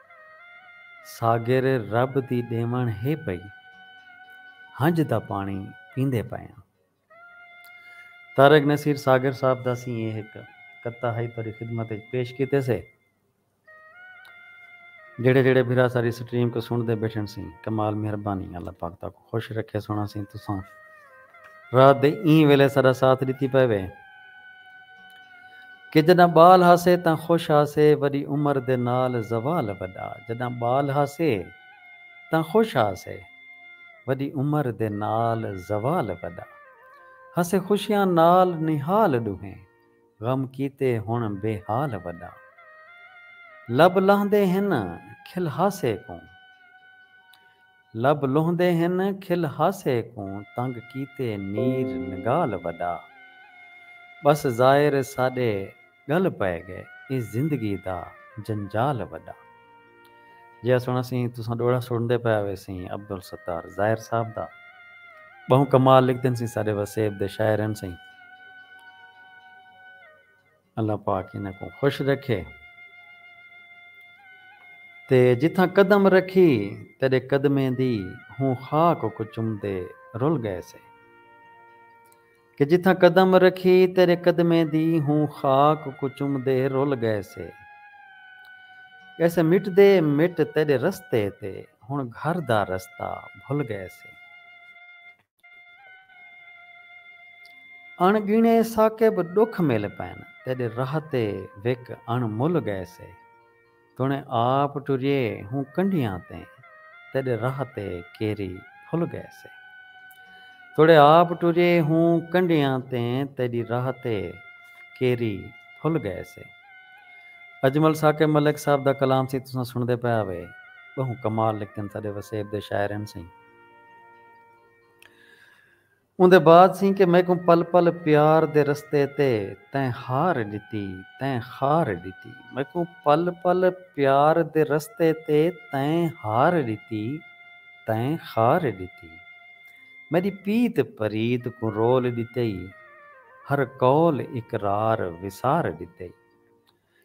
ساگر رب دی ݙیوݨ ہے پئی۔ ہنج دا پاݨی پیندے پئے آں۔ طارق نصیر ساگر صاحب دا اسی ایہ ہک قطعہ ہئی تہاݙی خدمت اچ پیش کیتے سے۔ جیڑھے جیڑھے بھرا ساݙی سٹریم کوں سݨدے ٻیٹھن سئیں کمال مہربانی اللہ پاک تہاکوں۔ خوش رکھے سونا سیں تساں رات دے ایں ویلے ساڈا ساتھ ڈتی پئے وے کہ جڈاں بال ہاسے تاں خوش ہاسے وڈی عمر دے نال زوال وڈا جڈاں بال ہاسے تاں خوش ہاسے وڈی عمر دے نال زوال وڈا ہاسے خوشیاں نال نہال ڈوہیں غم کیتے ہن بے حال وڈا لب لاہندے ہن کھل ہاسے کوں لب لہندے ہن کھل ہاسے کوں تنگ کیتے نیر نگال وݙا ٻس زائر ساݙے ڳل پئے ڳئے ایں زندگی دا جنجال وݙا جیہا سݨ اسیں تساں ݙوہڑا سݨدے پئے آوے سیں عبدالستار زائر صاحب دا ٻہوں کمال لکھدن سیں ساݙے وسیب دے شاعر ہن سیں۔ اللہ پاک انہاں کوں خوش رکھے تے جتھاں قدم رکھی تیݙے قدمیں دی ہوں خاک اکوں چمدے رل ڳئے سے کہ جتھاں قدم رکھی تیݙے قدمیں دی ہوں خاک اکوں چمدے رل ڳئے سے کیسے مٹدے مٹ تیݙے رستے تے ہݨ گھر دا رستہ بھل ڳئے سے۔ اݨ ڳݨے ثاقب ݙکھ مل پئن تیݙے راہ تے وک اݨ مل ڳئیسے توݨیں آپ ٹریے ہوں کنڈھیاں تیں تیݙے راہ تے کیری پھل ڳئیسے توڑے آپ ٹریے ہوں کنڈھیاں تیں تیݙی راہ تے کیری پھل ڳئیسے اجمل ثاقب ملک صاحب دا کلام سئیں تساں سݨدے پئے آوے ٻہوں کمال لکھدن ساݙے وسیب دے شاعر ہن سئیں۔ اوندے بعد سیں کہ میکوں پل پل پیار دے رستے تے تیں ہار ݙتی تیں خار ݙتی میکوں پل پل پیار دے رستے تے تیں ہار ݙتی تیں خار ݙتی میݙی پیت پریت کوں رول ݙتئی ہر قول اقرار وسار ݙتئی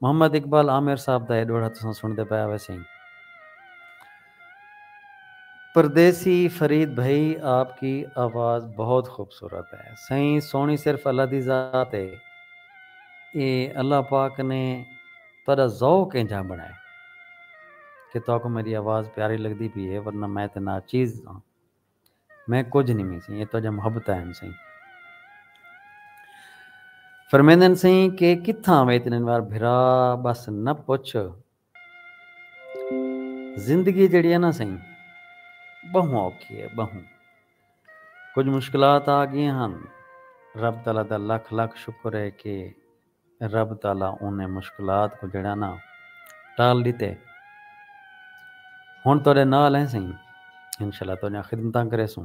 محمد اقبال عامر صاحب دا اے ݙوہڑا تساں سݨدے پئے ہویسیں۔ پردیسی فرید بھئی آپ کی آواز بہت خوبصورت ہے۔ سئیں سوہݨی صرف اللہ دی ذات ہے۔ اے اللہ پاک نے تہاݙا ذوق اینجھا بݨائے کہ تہاکوں میݙی آواز پیاری لڳدی پئی ہے ورنہ میں تاں ناچیز ہاں۔ میں کجھ نی میسیں اے تہاڈیاں محبتاں ہن سئیں۔ فرمیندن سئیں کہ کتھاں وے تنن وار بھرا بس نہ پچھ زندگی جیڑھی ہے نا سئیں بہوں اوکھی ہے بہوں کجھ مشکلات آ گیاں ہن رب تعالی دا لکھ لکھ شکر ہے کہ رب تعالی انھیں مشکلات کوں جھیڑا نہ ٹال ݙتے۔ ہݨ تہاݙے نال ہیں سئیں۔ انشاء اللہ تہاݙیاں خدمتاں کریسوں۔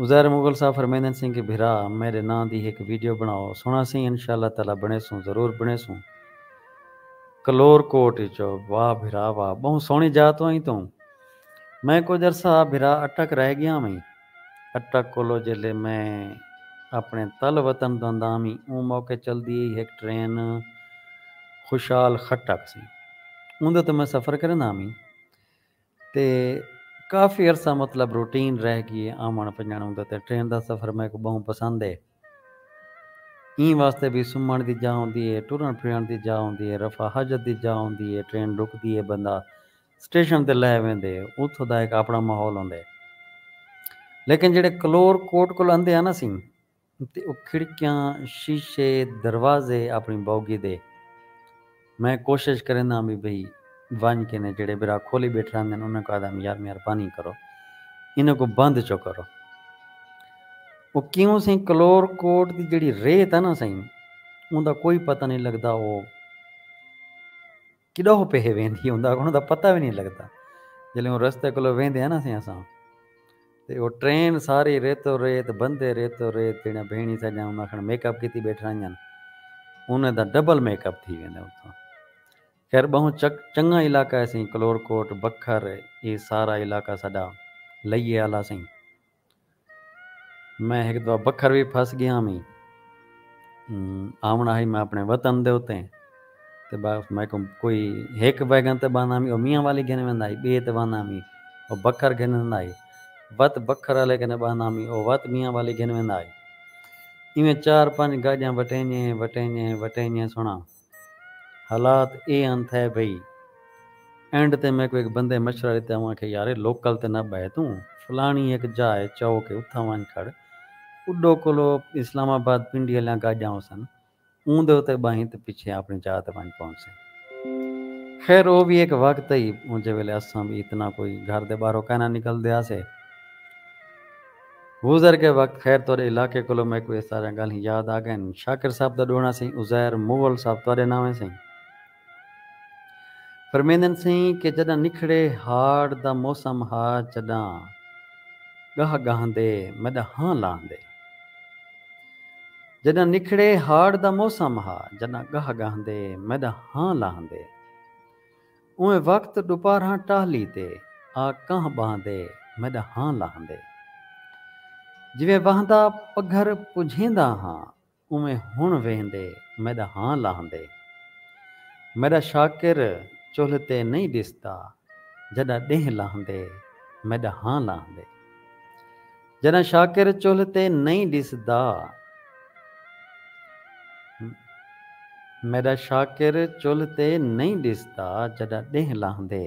عزیر مغل صاحب فرمیندن سئیں کہ بھرا میݙے ناں دی ہک ویڈیو بݨاؤ۔ سݨاں سئیں انشاء اللہ تعالی بݨیسوں ضرور بݨیسوں۔ کلور کوٹ اچوں واہ بھرا واہ ٻہوں سوہݨی جاء توں آئیں توں میں کجھ عرصہ بھرا اٹک رہ ڳیاں وئیں۔ اٹک کولو جیلے میں اپنڑے تل وطن داندامی اوں موقع چلدی ہئی ہک ٹرین خوشال خٹک سی اوندے اتوں میں سفر کریندامی تے کافی عرصہ مطلب روٹین رہ گی اے آونڑ ونجنڑ اوندے تے ٹرین دا سفر میکوں بہوں پسند اے۔ ایں واسطے وی سمھݨ دی جاہ ہوندی اے، ٹرݨ پھرݨ دی جاہ ہوندی اے، رفع حاجت دی جاہ ہوندی اے، ٹرین رکدی اے بندہ سٹیشن تے لہہ ویندے، اتھوں دا ہک آپݨا ماحول ہوندے۔ لیکن جیڑھے کلور کوٹ کول اندے ہن اسیں تے او کھڑکیاں، شیشے، دروازے آپݨی بوگی دے۔ میں کوشش کرینداں وی بھئی ونج کینے جیڑھے برا کھولی بیٹھے رہندن انہاں کوں آہدم یار مہربانی کرو انہاں کوں بند چو کرو او کیوں سئیں کلور کوٹ دی جیڑھی ریت ہے نا سئیں اوندا کوئی پتہ نہیں لگدا او کڈو پیہے ویندی اوندا اوندا پتہ وی نہیں لگدا جلے اوں رستے کولو ویندے ہیں نا سئیں اساں تے او ٹرین ساری ریتو ریت بندے ریتو ریت جیڑھیاں بھینڑی ساڈیاں انہاں آکھن میک اپ کیتی بیٹھ رہیاں انہاں دا ڈبل میک اپ تھی ویندا اتھاں خیر بہوں چنگا علاقہ ہے سیں کلور کوٹ بکھر اے سارا علاقہ ساڈا لئیے آلا سیں میں ہک دفعہ بکھر وی پھس گیا میں آونا ہی میں اپنے وطن دے اتے تے بس میں کوں کوئی ہک ویگن تے باندا ہمی او میاں والی گھن ویندا ہئی ٻئے تے باندا ہمی او بکھر گھن ویندا ہئی وت بکھر والے کنے باندا ہمی او وت میاں والی گھن ویندا ہئی ایویں چار پنج گاڈیاں وٹینجے ہیں وٹینجے ہیں وٹینجے ہیں سنڑاں حالات اے ہن تھئے بھئی اینڈ تے میکوں ہک بندے مشورہ ڈتے اوں آکھیا یار اے لوکل تے نہ بہہ توں فلانی ہک جاہ ہے چوک ہے اتھاں ونج کھڑ اڈو کولو اسلام آباد پنڈی والیاں گاڈیاں ہوسن اوں دے اتے ٻاہیں تے پچھے آپݨی جاہ تے ونڄ پہنچسے۔ خیر او وی ہک وقت ہئی جیں ویلے اساں وی اتنا کوئی گھر دے ٻاہرو کائنا نکلدے ہاسے۔ گزر ڳئے وقت خیر تہاݙے علاقے کولو میکوں اے ساریاں ڳالھیں یاد آ ڳئن۔ شاکر صاحب دا ݙوہݨا سئیں عزیر مغل صاحب تہاݙے ناویں سئیں۔ فرمیندن سئیں کہ جݙاں نکھڑے ہاڑ دا موسم ہا جݙاں ڳاہ ڳاہندے میݙا ہاں لاہندے جݙاں نکھڑے ہاڑ دا موسم ہا جݙاں ڳاہ ڳاہندے میݙا ہاں لاہندے اونویں وقت ݙوپارھاں ٹاہلی تے آ کاہ ٻاہندے میݙا ہاں لاہندے جیویں واہندا پگھر پجھیندا ہاں کونویں ہݨ ویہندے میݙا ہاں لاہندے میݙا شاکر چلھ تے نئیں ݙسدا جݙاں ݙینہہ لاہندے میݙا ہاں لاہندے جݙاں شاکر چلھ تے نئیں ݙسدا میݙا شاکر چلھ تے نئیں ݙسدا جݙاں ݙینہہ لاہندے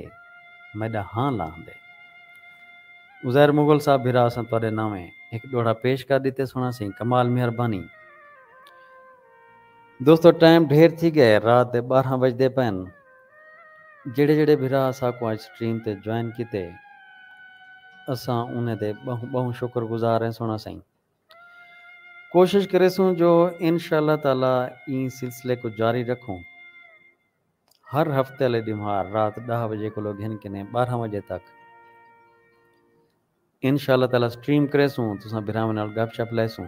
میݙا ہاں لاہندے۔ عزیر مغل صاحب بھرا اساں تہاݙے ناویں ہک ݙوہڑا پیش کر ݙتے سݨا سئیں کمال مہربانی دوستو ٹائم ڈھیر تھی ڳئے رات دے ٻارہاں وڄدے پئن جیڑھے جیڑھے بھرا اساکوں اڄ سٹریم تے جوائن کیتے اساں انہیں دے ٻہوں ٻہوں شکر گزار ہیں سݨا سئیں کوشش کریسوں جو انشاءاللہ تعالی ایں سلسلے کوں جاری رکھوں ہر ہفتے آلے ڈینہوار رات ڈاہ وجے کولو گھن کنیں بارہاں وجے تک انشاء اللہ تعالی سٹریم کریسوں تساں بھراواں نال گپ شپ لیسوں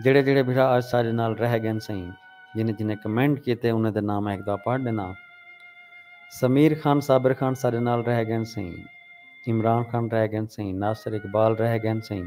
جیڑھے جیڑھے بھرا اج ساڈے نال رہ گن سئیں جنہیں جنہیں کمنٹ کیتے انہیں دے ناں میں ہک دفعہ پڑھ ڈناں سمیر خان صابر خان ساڈے نال رہ گن سئیں عمران خان رہ گن سئیں ناصر اقبال رہ گن سئیں۔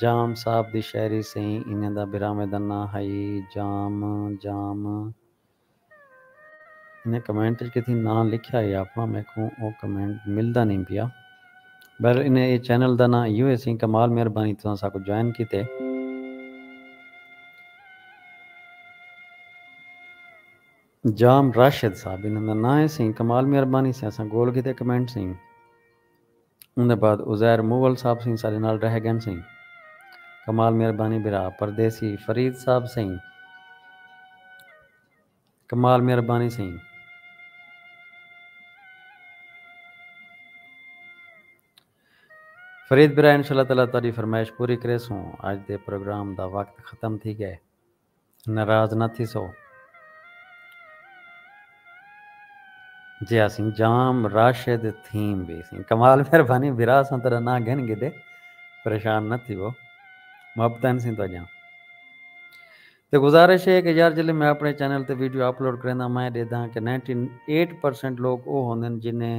جام صاحب دی شاعری سئیں انہیں دا براہویں دا ناں ہئی جام جام انہیں کمنٹ اچ کتھیں ناں لکھیا ہئی آپنڑاں میکوں او کمنٹ ملدا نئیں پیا بہرحال انہیں اے چینل دا ناں ایہو ہیسی کمال مہربانی تساں ساکوں جوائن کیتے۔ جام راشد صاحب انہیں دا ناں ہیسی کمال مہربانی تساں ساکوں گول کیتے کمنٹ سئیں۔ اوندے بعد عزیر مول صاحب سئیں ساڈے نال رہ گن سئیں۔ کمال مہربانی بھرا پردیسی فرید صاحب سئیں کمال مہربانی سئیں۔ فرید بھرا انشاءاللہ تعالی تہاڈی فرمائش پوری کریسوں اج دے پروگرام دا وقت ختم تھی گئے۔ ناراض نہ تھیسو جے اسیں جام راشد تھیم وی سیں کمال مہربانی بھرا اساں تیڈا ناں گھن گھدے پریشان نہ تھیو محبتن سیں تو جاں تے گزارش ہے کہ یار جلے میں اپنے چینل تے ویڈیو اپلوڈ کریندا میں ڈیدھاں کہ نائنٹی ایٹ پرسینٹ لوگ او ہوندن جنہیں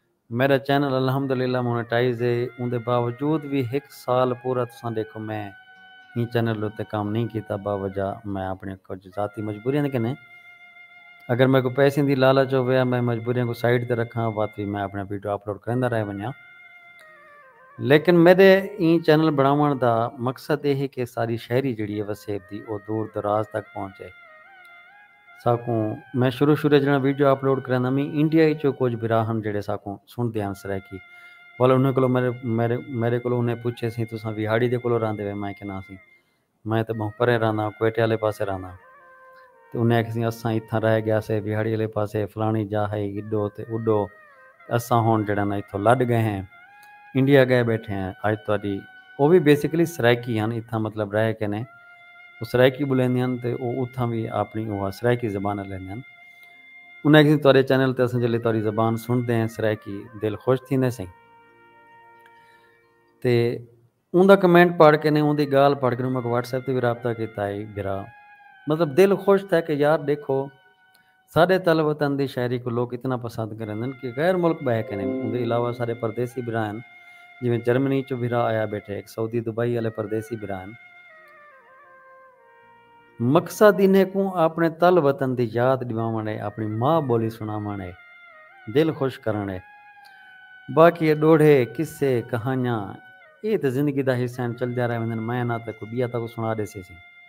میڈا چینل الحمدللہ مونیٹائز ہے اوندے باوجود وی ہک سال پورا تساں ڈیکھو میں ایں چینل دے اتے کم نئیں کیتا باوجہ میں اپنڑیاں کجھ ذاتی مجبوریاں دے کنیں اگر میکوں پیسیں دی لالچ ہووے یا میں مجبوریاں کوں سائیڈ تے رکھاں وت وی میں اپنڑیاں ویڈیو اپلوڈ کریندا رہ ونجاں لیکن میڈے ایں چینل بنڑاونڑ دا مقصد اے ہے کہ ساری شاعری جیڑھی ہے وسیب دی او دور دراز تک پہنچے۔ ساکوں میں شروع شروع اچ جیڑھا ویڈیو اپلوڈ کریندا میں انڈیا اچوں کجھ بھرا ہن جیڑھے ساکوں سنڑدے ہن سرائیکی ول انھاں کولوں میڈے کولوں انھاں پچھے سی تساں ویہاڑی دے کولوں راہندے وے میں آکھیا نا سی میں تاں بہوں پریں راہنداں کوئٹے آلے پاسے راہنداں تے انھاں آکھیا سی اساں اتھاں راہ گیا سے ویہاڑی آلے پاسے فلانی جاہ ہئی ایڈو تے اوڈو تے اساں ہن جیڑھا نا اتھوں لڈ گئے ہیں انڈیا گئے بیٹھے ہیں اج تہاڈی او وی بیسیکلی سرائیکی ہن اتھاں مطلب رہ کے نے او سرائیکی ٻولیندے ہن تے او اتھاں وی آپݨی اوہا سرائیکی زبان الیندے ہن۔ انہاں آکھیسئیں تہاݙے چینل تے اساں جیلھے تہاݙی زبان سݨدے ہیں سرائیکی دل خوش تھیندے سئیں۔ تے اوندا کمنٹ پڑھ کے نے اوندی ڳالھ پڑھ کے نے میکوں واٹس ایپ تے وی رابطہ کیتا ہئی بھرا مطلب دل خوش تھئے کہ یار ݙیکھو۔ ساݙے تل وطن دی شاعری کوں لوک اتنا پسند کریندن کہ غیر ملک ٻہہ کنیں اوندے علاوہ ساݙے پردیسی بھرا ہن جیویں جرمنی چوں بھرا آیا ٻیٹھے ہک سعودی دبئی آلے پردیسی بھرا ہن مقصد انھیں کوں آپݨے تل وطن دی یاد ݙیواوݨ اے آپݨی ماء ٻولی سݨاوݨ اے دل خوش کرݨ اے باقی اے ݙوہڑے قصے کہانیاں اے تاں زندگی دا حصہ ہن چلدیاں رہ ویندن میں نہ تاں کوئی ٻیا تہاکوں سݨا ݙیسیسیں۔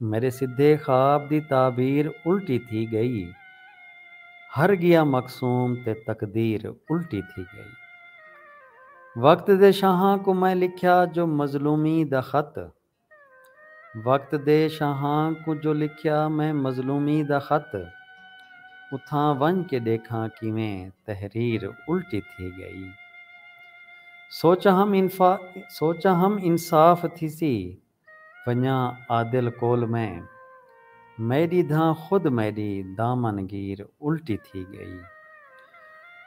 میݙے سدھے خواب دی تعبیر الٹی تھی ڳئی ہر ڳیا مقسوم تے تقدیر الٹی تھی ڳئی وقت دے شاہاں کوں میں لکھیا جو مظلومی دا خط وقت دے شاہاں کوں جو لکھیا میں مظلومی دا خط اتھاں ونڄ کے ݙیکھاں کیویں تحریر الٹی تھی ڳئی سوچاں ہم انصاف تھیسی ونڄاں عادل کول میں۔ میݙی دھاں خود میݙی دامن گیر الٹی تھی ڳئی۔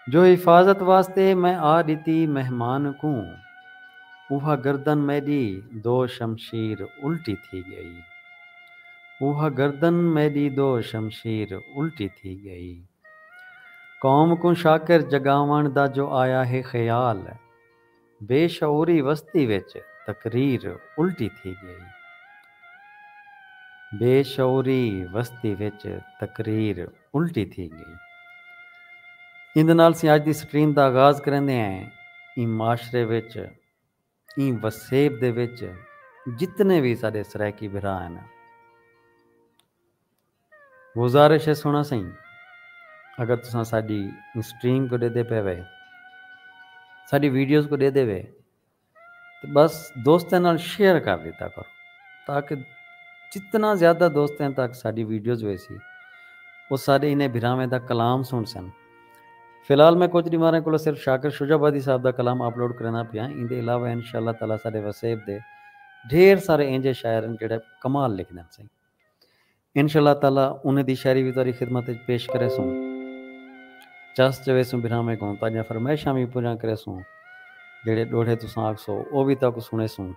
جو حفاظت واسطے میں آ ݙتی مہمان کوں۔ اوہا گردن میݙی دو شمشیر الٹی تھی ڳئی۔ اوہا گردن میݙی دو شمشیر الٹی تھی ڳئی۔ قوم کوں شاکر جڳاوݨ دا جو آیا ہے خیال۔ بے شعوری وستی وچ تقریر الٹی تھی ڳئی بے شعوری وستی وچ تقریر الٹی تھی ڳئی ایندے نال اسیں اج دی سٹریم دا آغاز کریندے ہیں ایں معاشرے وچ ایں وسیب دے وچ جتنے وی ساڈے سرائیکی بھرا ہن گزارش ہے سونا سئیں اگر تساں ساڈی اسٹریم کو ڈیدے پے وے ساڈی ویڈیوز کو ڈیدے وے تے بس دوستاں نال شیئر کر دیتا کرو تاکہ جتنا زیادہ دوستاں تک ساڈی ویڈیوز ویسی او ساڈے انہیں بھراویں دا کلام سن سن فی الحال میں کچھ ڈیماریں کولو صرف شاکر شجاع آبادی صاحب دا کلام اپلوڈ کرنا پیا ہاں ایندے علاوہ انشاءاللہ تعالی ساڈے وسیب دے ڈھیر سارے اینجے شاعر ہیں جڑے کمال لکھدن سئیں انشاء اللہ تعالی انہیں دی شاعری بھی تاری خدمت وچ پیش کرے سوں چس چوے سوں بھراویں کوں تاجا فرمائشاں بھی پوریاں کرے سوں جڑے ڈوڑھے تساں آکسو او بھی تاکو سنے سوں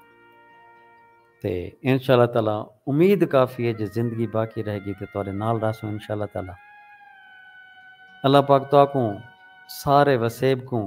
تے انشاء اللہ تعالی امید کافی ہے جے زندگی باقی رہے گی تے تارے نال رہسوں انشاء اللہ تعالی اللہ پاک تاکوں سارے وسیب کوں